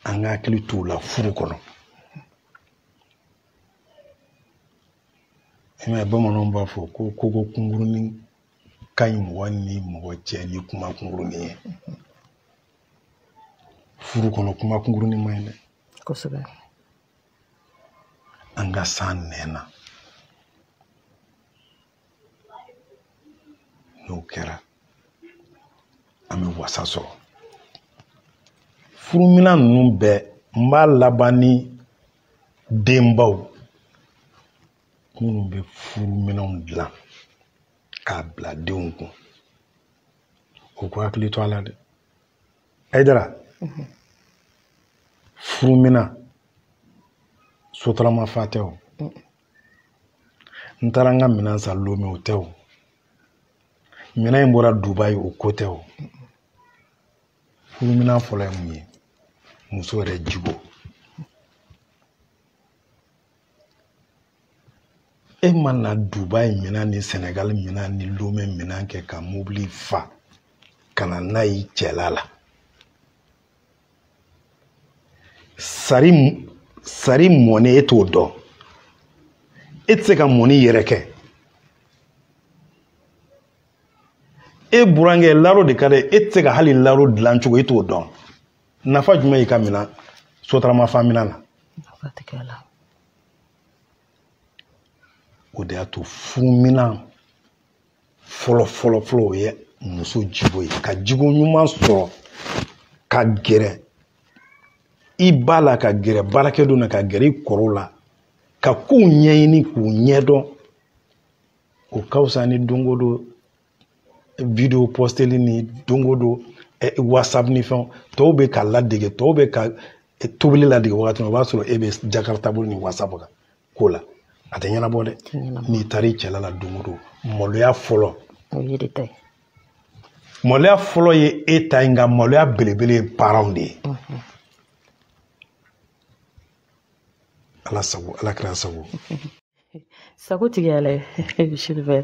an ka hakili t'u la furu kɔnɔ i m'a ye bamananw b'a fɔ ko kogo kunkurunin ka ɲi mɔgɔ ni mɔgɔ cɛ ni kuma kunkurunin ye furu kɔnɔ kuma kunkurunin man ɲi dɛ kosɛbɛ an ka s'an nɛn na n'o kɛra an bɛ wasa sɔrɔ furuminan ninnu bɛɛ n b'a laban ni denbaw minnu bɛ furu minɛnw dilan k'a bila denw kun u k'u hakili to a la dɛ ayidara mhm. furu minɛn sotarama fa tɛ o mm. n taara n ka minɛn san lome o tɛ o minɛn in bɔra dubayi o ko tɛ o mm. furu minɛn fɔlɔ ye mun ye muso yɛrɛ jogo e mana dubai minan ni senegal minan ni lome minan kɛ ka mobili fa ka na n'a ye cɛla la sari mɔni e t'o dɔn e tɛ se ka mɔni yɛrɛ kɛ e burankɛ laro de ka d'a ye e tɛ se ka hali laro dilan cogo e t'o dɔn nafa jumɛn y'i ka minan sotarama fa minan na o de y'a to furuminan fɔlɔ fɔlɔ fɔlɔ o ye muso jigo ye ka jigo ɲuman sɔrɔ ka gɛrɛ i ba la ka gɛrɛ baarakɛdenw na ka gɛrɛ i kɔrɔw la ka kow ɲɛɲini k'u ɲɛdɔn o ka fisa ni don o don video posteli ni don o don whatsapp ni fɛnw tɔw bɛ ka ladege tɔw bɛ ka tobili ladege wagati min o b'a sɔrɔ e bɛ jakarta bolo ni whatsapp kan ko la a tɛ ɲɛnabɔ dɛ n'i taara i cɛla la don o don maloya fɔlɔ maloya fɔlɔ ye e ta ye nka maloya belebele ye parents de ye ala sago ala kira sago
sago tigi y'ala silifɛ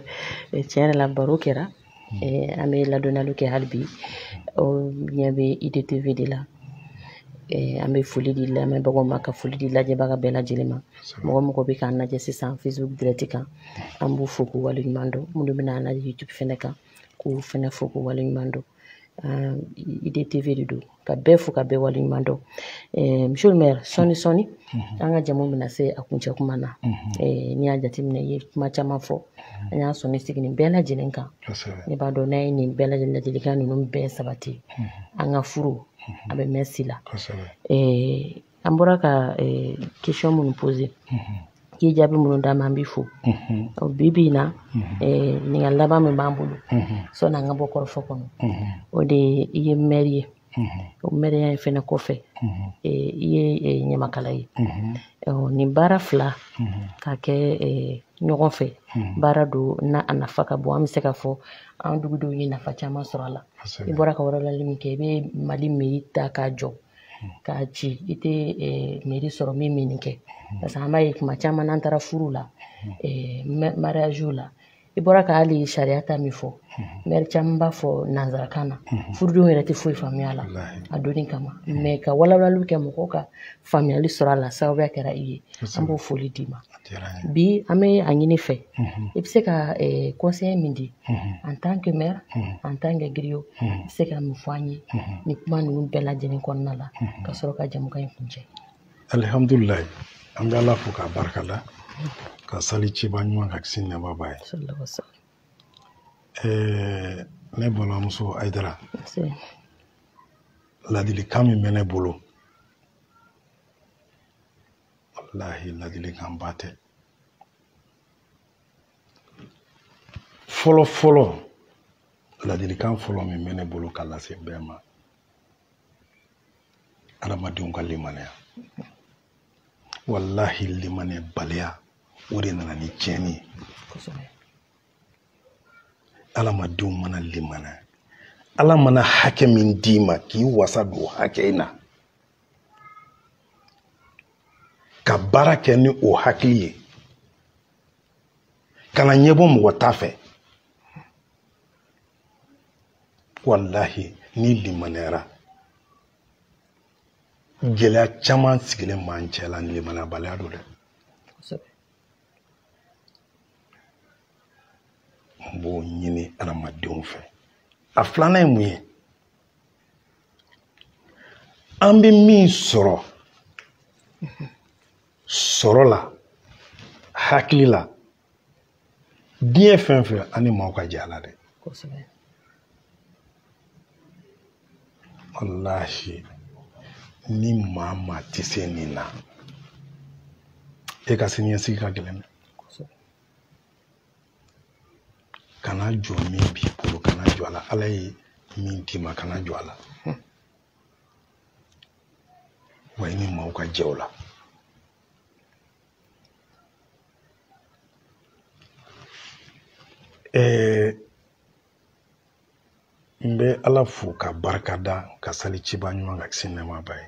tiɲɛ yɛrɛ la baro kɛra an bɛ ladɔnniyali kɛ hali bi aw ɲɛ bɛ idtv de la an bɛ foli di lamɛnbagaw ma ka foli di lajɛbaga bɛɛ lajɛlen ma mɔgɔ mɔgɔ bɛ k'an lajɛ sisan facebook direct kan an b'u fo k'u waleɲuman dɔn minnu bɛna an lajɛ youtube fɛnɛ kan k'u fɛnɛ fo k'u waleɲuman dɔn IDTV de don ka bɛɛ fo ka bɛɛ waleɲuman dɔn eh, monsieur le maire sɔni sɔni mhm. an ka jamu bɛna se a kuncɛ kuma na mhm. eh, n'i y'a jateminɛ i ye kuma caman fɔ mhm. an y'a sɔnni sigi nin bɛɛ lajɛlen kan ne b'a dɔn n'a ye nin bɛɛ lajɛlen ladilikan ninnu bɛɛ sabati an ka furu a bɛ mɛn si la eh, an bɔra ka eh, question minnu pose mhm. i ye jaabi minnu d'an ma an b'i fo mhm. bi bi in na mhm. eh, ɲininkali laban min b'an bolo sɔni an ka bɔ kɔrɔfɔ kɔnɔ o de ye i ye mɛri ye o mɛriya in fɛnɛ kɔfɛ eh, i ye ɲamakala ye nin baara fila ka kɛ ɲɔgɔn fɛ baara don na a nafa ka bon an bɛ se ka fɔ an dugudenw ye nafa caman sɔrɔ a la i bɔra ka walawalali min kɛ i bɛ mali mɛri ta k'a jɔ k'a ci i tɛ mɛri sɔrɔ min bɛ nin kɛ parce que an b'a ye kuma caman n'an taara furu la mariage la i bɔra ka hali sariya ta min fɔ mɛri caman b'a fɔ nanzarakan na furudenw yɛrɛ tɛ foyi faamuya la a donni kama mais ka walawalaliw kɛ mɔgɔw ka faamuyali sɔrɔ a la sababuya kɛra i ye an b'o foli d'i ma bi an bɛ a ɲini i fɛ mhm. i bɛ se ka conseil min di mhm. en tant que maire mhm. en tant que griot i bɛ se ka min fɔ an ye nin kuma ninnu bɛɛ lajɛlen kɔnɔna la ka sɔrɔ ka jamukan in kuncɛ alihamdulilayi
an bɛ ala fo k'a barikada ka sali ciba ɲuman kan kisi ni nɛma b'a ye ne balimamuso ayidara ladilikan min bɛ ne bolo walahi ladilikanba tɛ fɔlɔ fɔlɔ ladilikan fɔlɔ min bɛ ne bolo ka lase bɛɛ ma adamadenw ka limaniya walahi limaniyabaliya o de nana ni tiɲɛni ye adamadenw mana limaniya ala mana hakɛ min d'i ma k'i wasa don hakɛ in na ka baara kɛ ni o hakili ye kana ɲɛbɔ mɔgɔ ta fɛ walahi n'i limaniyara gɛlɛya caman sigilen b'an cɛ la limaniyabaliya don dɛ n b'o ɲini adamadenw fɛ a filanan ye mun ye an bɛ min sɔrɔ sɔrɔ la hakili la diɲɛ fɛn fɛn an ni maaw ka jɛ a la dɛ walahi ni maa maa tɛ se nin na e ka siniɲɛsigi ka gɛlɛn dɛ kana jɔ min b'i bolo kana jɔ a la ala ye min d'i ma kana jɔ a la wa i ni maaw ka jɛ o la ɛɛ n bɛ ala fo ka barika da ka sali ciba ɲuman kan kisi nɛɛma b'a ye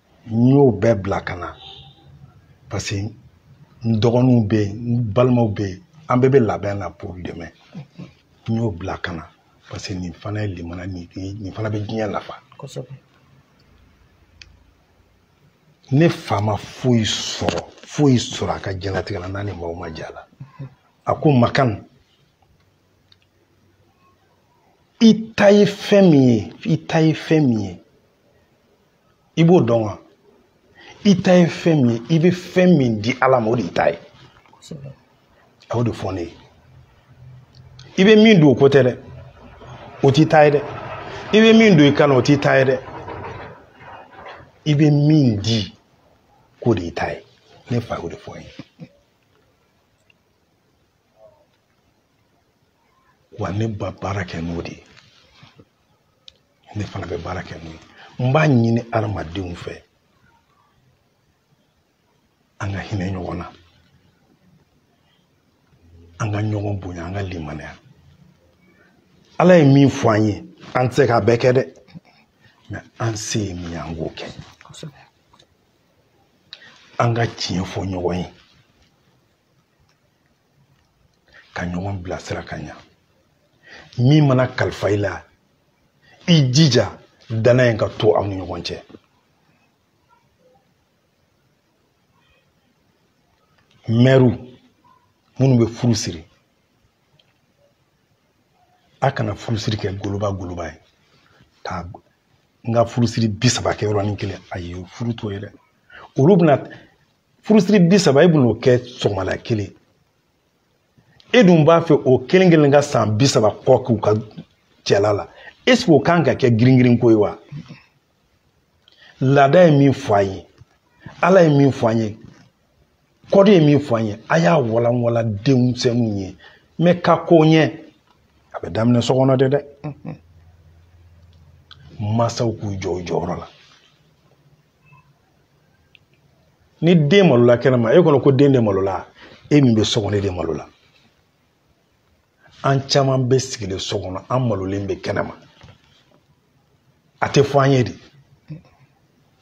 n y'o bɛɛ bila ka na parce que n dɔgɔninw bɛ yen n balimaw bɛ yen an bɛɛ bɛ labɛn na pour demain n y'o bila ka na parce que nin fana ye limana nin nin fana bɛ diɲɛ nafa kosɛbɛ ne fa ma foyi sɔrɔ foyi sɔrɔ a ka diɲɛlatigɛ la n'a ni maaw ma jɛ a la a ko makan i ta ye fɛn min ye i ta ye fɛn min ye i b'o dɔn wa i ta ye fɛn min ye i bɛ fɛn min di ala ma o de y'i ta ye a y'o de fɔ ne ye i bɛ min dun o ko tɛ dɛ o t'i ta ye dɛ i bɛ min don i kan na o t'i ta ye dɛ i bɛ min di k'o de y'i ta ye ne fa y'o de fɔ n ye wa ne bɛ baara kɛ n'o de ye ne fana bɛ baara kɛ n'o ye n b'a ɲini adamadenw fɛ an ka hinɛ ɲɔgɔn na an ka ɲɔgɔn bonya an ka limaniya ala ye min fɔ an ye an tɛ se k'a bɛɛ kɛ dɛ mɛ an se ye min ye an k'o kɛ an ka tiɲɛ fɔ ɲɔgɔn ye ka ɲɔgɔn bilasira ka ɲa min mana kalifa i la i jija dannaya in ka to aw ni ɲɔgɔn cɛ mɛriw minnu bɛ furu siri a kana furusiri kɛ goloba goloba ye k'an ka furusiri bi saba kɛ yɔrɔnin kelen ayi furu t'o ye dɛ olu bɛna furusiri bi saba e bɛn'o kɛ sɔgɔmada kelen e dun b'a fɛ o kelen kelen ka san bi saba kɔ k'u ka cɛla la eseke o kan ka kɛ giringirin ko ye wa laada ye min fɔ an ye ala ye min fɔ an ye kɔdi ye min fɔ an ye a y'a walanwala denmisɛnninw ye mɛ ka ko ɲɛ a bɛ daminɛ so kɔnɔ de dɛ mansaw k'u jɔ u jɔyɔrɔ la ni den malola kɛnɛma e kɔnɔ ko den de malola e min bɛ so kɔnɔ e de malola an caman bɛ sigilen so kɔnɔ an malolen bɛ kɛnɛma a tɛ fɔ an ye de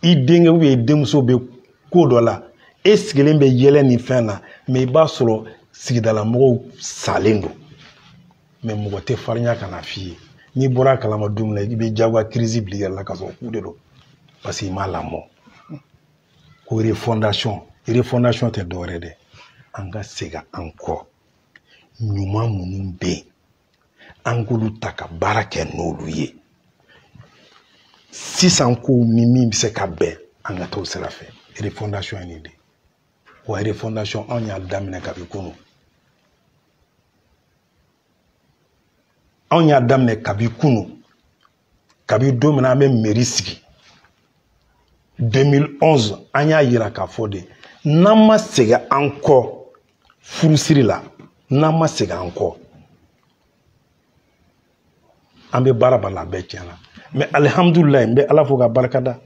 i denkɛ ubiyɛn i denmuso bɛ ko dɔ la e sigilen bɛ yɛlɛ nin fɛn na mɛ i b'a sɔrɔ sigidala mɔgɔw salen don mɛ mɔgɔ tɛ farinya ka n'a f'i ye n'i bɔra a kalama don min na i bɛ jagoya kirizi bil'i yɛrɛ la ka sɔrɔ k'u de don parce que i m'a lamɔ ko refondation refondation tɛ dɔwɛrɛ dɛ an ka segin an kɔ ɲuman minnu bɛ yen an k'olu ta ka baara kɛ n'olu ye sisan kow ni min bɛ se ka bɛn an ka t'o sira fɛ refondation ye nin de ye wa refondation anw y'a daminɛ kabi kunu anw y'a daminɛ kabi kunu kabi don min na an bɛ mɛri sigi 2011 an y'a yira k'a fɔ de n'an ma segin an kɔ furusiri la n'an ma segin an kɔ an bɛ baara baara la a bɛɛ tiɲɛna mɛ alihamdulilayi n bɛ ala fo k'a barika da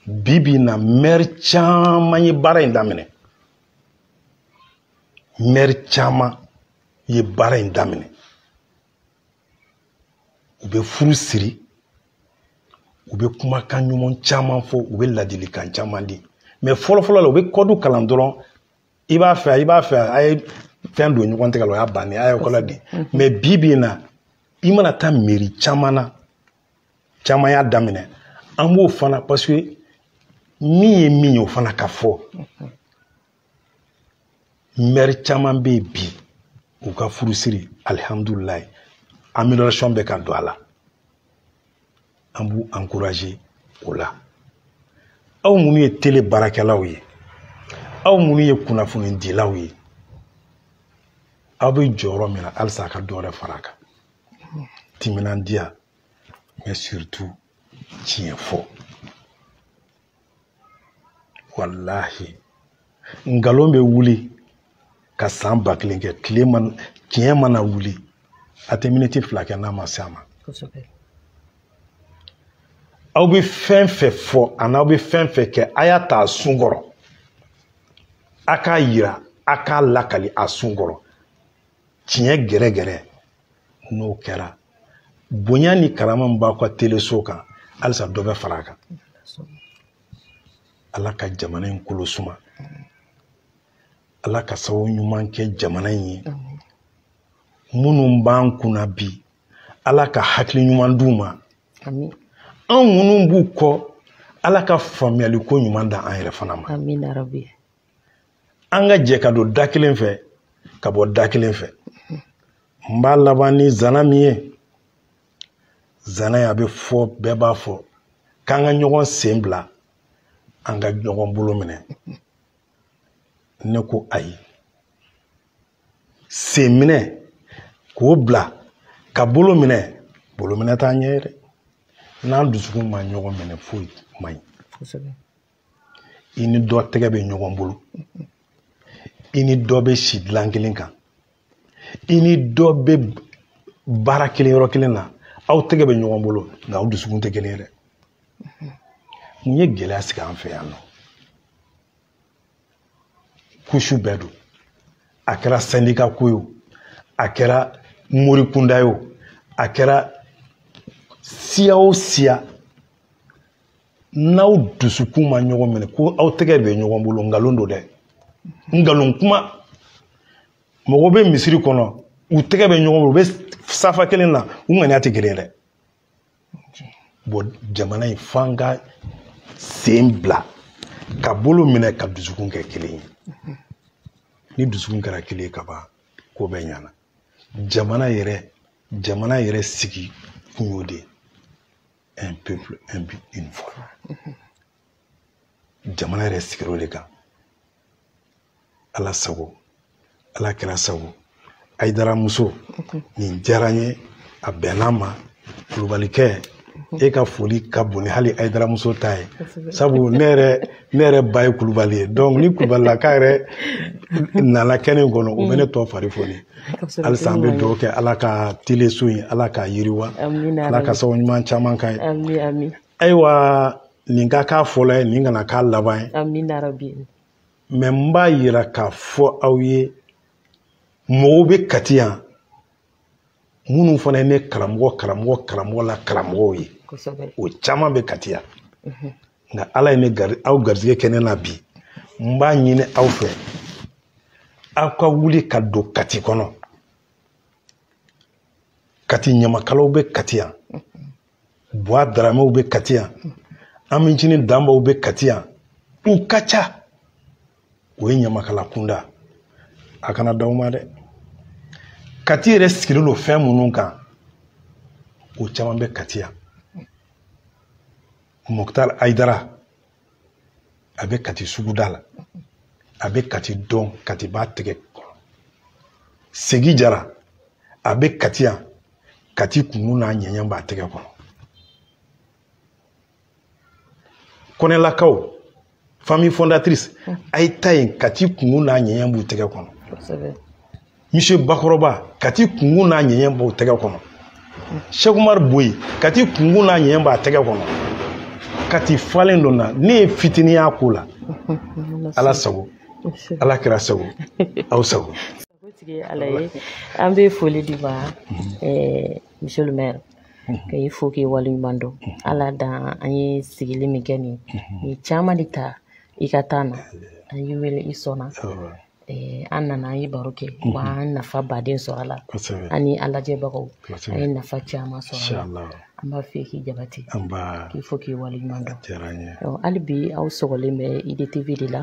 bi bi in na mɛri caman ye baara in daminɛ mɛri caman ye baara in daminɛ u bɛ furu siri u bɛ kumakan ɲuman caman fɔ u bɛ ladilikan caman di mɛ fɔlɔfɔlɔ la u bɛ kɔdu kalan dɔrɔn i b'a fɛ i b'a fɛ a ye fɛn don ɲɔgɔn tɛgɛ la o y'a bannen a ye kɔlɔ di mɛ bi bi in na i mana taa mɛri caman na caman y'a daminɛ an b'o fana paseke min ye min ye o fana ka fɔ mɛri caman bɛ yen bi u ka furusiri alihamudulilayi amélioration bɛ ka don a la an b'u encourager o la aw minnu ye tele baarakɛlaw ye aw minnu ye kunnafonidilaw ye aw bɛ jɔyɔrɔ min na halisa a ka dɔ wɛrɛ fara a kan timinandiya mɛ surtout tiɲɛ fɔ walahi nkalon bɛ wuli ka san ba kelen kɛ tiɲɛ mana wuli a tɛ miniti fila kɛ n'a ma se a ma aw bɛ fɛn fɛn fɔ ani aw bɛ fɛn fɛn kɛ a y'a ta a sun kɔrɔ a k'a yira a k'a lakali a sun kɔrɔ tiɲɛ gɛrɛgɛrɛ n'o kɛra bonya ni karama min b'aw ka teleso kan halisa dɔ bɛ fara a kan ala ka jamana in kolo suma ala ka sababu ɲuman kɛ jamana in ye minnu b'an kunna bi ala ka hakili ɲuman d'u ma anw minnu b'u kɔ ala ka faamuyali ko ɲuman da an yɛrɛ fana ma an ka jɛ ka don da kelen fɛ ka bɔ da kelen fɛ n b'a laban ni zana min ye zana ye a bɛ fɔ bɛɛ b'a fɔ k'an ka ɲɔgɔn sen bila an ka ɲɔgɔn bolo minɛ ne ko ayi sen minɛ k'o bila ka bolo minɛ bolo minɛ t'a ɲɛ ye dɛ n'an dusukun ma ɲɔgɔn minɛ foyi man ɲi i ni dɔ tɛgɛ bɛ ɲɔgɔn bolo i ni dɔ bɛ si dilan kelen kan i ni dɔ bɛ baara kelen yɔrɔ kelen na aw tɛgɛ bɛ ɲɔgɔn bolo nka aw dusukun tɛ kelen ye dɛ mun ye gɛlɛya sigi an fɛ yan nɔ kusu bɛɛ don a kɛra sɛndika ko ye o a kɛra mori kunda ye o a kɛra siya o siya n'aw dusukun ma ɲɔgɔn minɛ ko aw tɛgɛ bɛ ɲɔgɔn bolo nkalon don dɛ nkalon kuma mɔgɔ bɛ misiri kɔnɔ u tɛgɛ bɛ ɲɔgɔn bolo u bɛ safa kelen na u ŋaniya tɛ kelen dɛ bon jamana in f'an ka sen bila ka bolo minɛ ka dusukun kɛ kelen ye ni dusukun kɛra kelen ye ka ban ko bɛɛ ɲana jamana yɛrɛ jamana yɛrɛ sigi kun y'o de ye un peuple un but une foi jamana yɛrɛ sigir'o de kan ala sago ala kɛra sago ayidara muso nin diyara n ye a bɛnna ma kulubalikɛ e ka foli ka bon ni hali ayidara muso ta ye sabu ne yɛrɛ ne yɛrɛ ba ye kulubali ye donc ni kulubalilaka yɛrɛ nana kɛnɛ in kɔnɔ o bɛ ne tɔ fari foni halisa an bɛ dugawu kɛ ala ka tele so in ala k'a yiriwa ala ka sababu ɲuman caman k'a ye ayiwa nin ka k'a fɔlɔ ye nin kana k'a laban ye mais n b'a yira k'a fɔ aw ye mɔgɔw bɛ kati yan minnu fana ye ne karamɔgɔ karamɔgɔ karamɔgɔ la karamɔgɔw ye o caman bɛ kati yan mhm. nka ala ye ne gari aw garijɛgɛ kɛ ne na bi n b'a ɲini aw fɛ aw ka wuli ka don kati kɔnɔ kati ɲamakalaw bɛ kati yan mhm. buwa daramew bɛ kati yan ami cini danbaw bɛ kati yan u ka ca o ye ɲamakala kunda a kana dan o ma dɛ kati yɛrɛ sigilen don fɛn minnu kan o caman bɛ kati yan moktar ayidara a bɛ kati suguda la a bɛ kati dɔn kati b'a tɛgɛ kɔnɔ segi jara a bɛ kati yan kati kunkun n'a ɲɛɲɛ b'a tɛgɛ kɔnɔ kɔnɛlakaw famille fondatrice a ye taa yen kati kunkun n'a ɲɛɲɛ b'u tɛgɛ kɔnɔ monsieur bakɔrɔba kati kunkun n'a ɲɛɲɛ b'a tɛgɛ kɔnɔ sɛkumari boyi kati kunkun n'a ɲɛɲɛ b'a tɛgɛ kɔnɔ kati falen don a ne ye fitinin y'a ko la ala sago ala kɛra sago aw sago ala
ye an bɛ foli d'i ma mhm. monsieur le maire mhm. ka i fo k'i waleɲuman dɔn mhm. ala dan an ye sigili min kɛ nin ye caman de ta i ka temps na an y'i wele i sɔnna Eh, an nana an ye baro kɛ mhm. wa an nafaba de sɔrɔ a la an ni an lajɛbagaw an ye nafa caman sɔrɔ a la an b'a fɛ k'i jabate k'i fo k'i waleɲuman dɔn hali bi aw sɔgɔlen bɛ idtv de la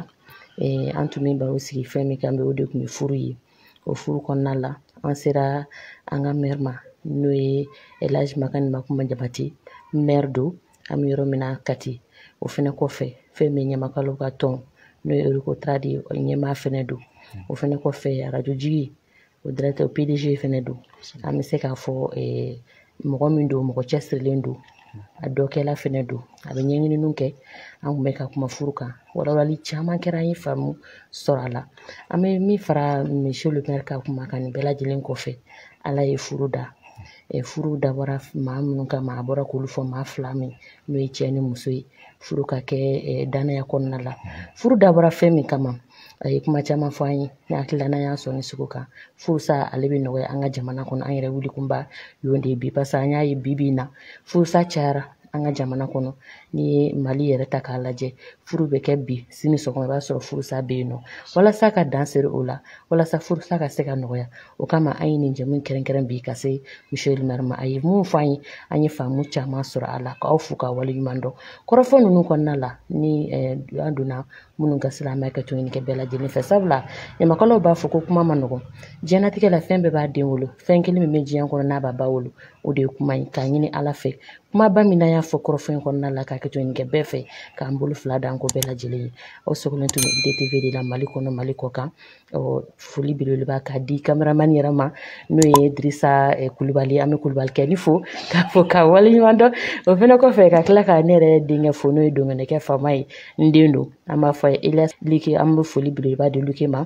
eh, an tun bɛ baro sigi fɛn min kan bi o de tun ye furu ye o furu kɔnɔna la an sera an ka mɛri ma n'o ye elaji makani makuma jabate mɛri don an bɛ yɔrɔ min na kati o fɛnɛ kɔfɛ fɛn min ɲamakalaw ka tɔn n'o ye recotrade ye o ɲɛmaa fɛnɛ don o fɛnɛ kɔfɛ arajo jigi o directeur o pdg fɛnɛ don an bɛ se k'a fɔ mɔgɔ min don mɔgɔ cɛsirilen don a dɔkɛla fɛnɛ don a bɛ ɲɛɲininiw kɛ an kun bɛ ka kuma furu kan walawalali caman kɛra an ye faamu sɔrɔ a la an bɛ min fara monsieur le maire ka kuma kan nin bɛɛ lajɛlen kɔfɛ ala ye furu da furu dabɔra maa minnu kama a bɔra k'olu fɔ maa fila min n'o ye cɛ ni muso ye furu ka kɛ dannaya kɔnɔna la furu dabɔra fɛn min kama a ye kuma caman fɔ an ye ne hakili la n'an y'an sɔnin sigi o kan furusa ale bɛ nɔgɔya an ka jamana kɔnɔ an yɛrɛ wulikunba y'o de ye bi paseke an y'a ye bi bi in na furusa cayara an ka jamana kɔnɔ n'i ye mali yɛrɛ ta k'a lajɛ furu bɛ kɛ bi sini sɔgɔma i b'a sɔrɔ furusa bɛ yen nɔ walasa ka dan sigi o la walasa furusa ka se ka nɔgɔya o kama an ye nin jɛmu kɛrɛnkɛrɛn bi ka se monsieur le maire ma a ye min fɔ an ye an ye faamu caman sɔrɔ a la k'aw fo k'aw waleɲuman dɔn kɔrɔfɔ ninnu kɔnɔna la ni eh, an donna minnu gasi la an bɛ hakɛto ɲini kɛ bɛɛ lajɛlen fɛ sabula ɲamakalaw b'a fɔ ko kuma man nɔgɔn diɲɛnatigɛ la fɛn bɛɛ b'a den wolo fɛn kelen min bɛ diɲɛ kɔnɔ n'a b'a ba wolo o de ye kuma ye k'a ɲini ala fɛ kumaba min an y'a fɔ kɔrɔfɔ in kɔnɔna la ka hakɛto ɲini kɛ bɛɛ fɛ k'an bolo fila d'an kɔ bɛɛ lajɛlen ye aw sogolen tun bɛ idtv de la mali kɔnɔ mali kɔkan foli belebeleba k'a di kameramani yɛrɛ ma n'o ye dirisa eh, kulubali an bɛ kulubalikɛ nin fo k'a fo k'a waleɲuman dɔn o fana kɔfɛ ka tila ka ne yɛrɛ denkɛ fo n'o ye dongɛnɛkɛ faama ye n den don an b'a fɔ a ye eliyasi liki an bɛ foli belebeleba di luke ma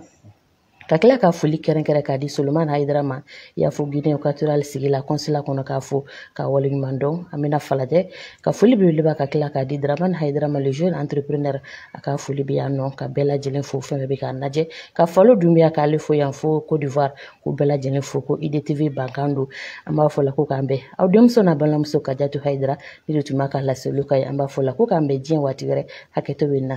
ka tila ka foli kɛrɛnkɛrɛn k'a di solomani hayidara ma yan fo guinee equatoriale sigi la kɔnsila kɔnɔ k'a fo k'a waleɲuman dɔn an bɛna falajɛ ka foli belebeleba ka tila k'a di dramani hayidara ma le jeune entrepreneur a ka foli bɛ yan nɔ ka bɛɛ lajɛlen fo fɛn bɛɛ bɛ k'an lajɛ ka falo dunbiya k'ale fo yan fo cote d'ivoire k'u bɛɛ lajɛlen fo ko idtv bankan don an b'a fɔ la ko k'an bɛn aw denmuso n'aw balimamuso kajatu hayidara ne de tun bɛ ka laseliw k'aw ye an b'a fɔ la ko k'an bɛn diɲɛ waati wɛrɛ hakɛto b'a la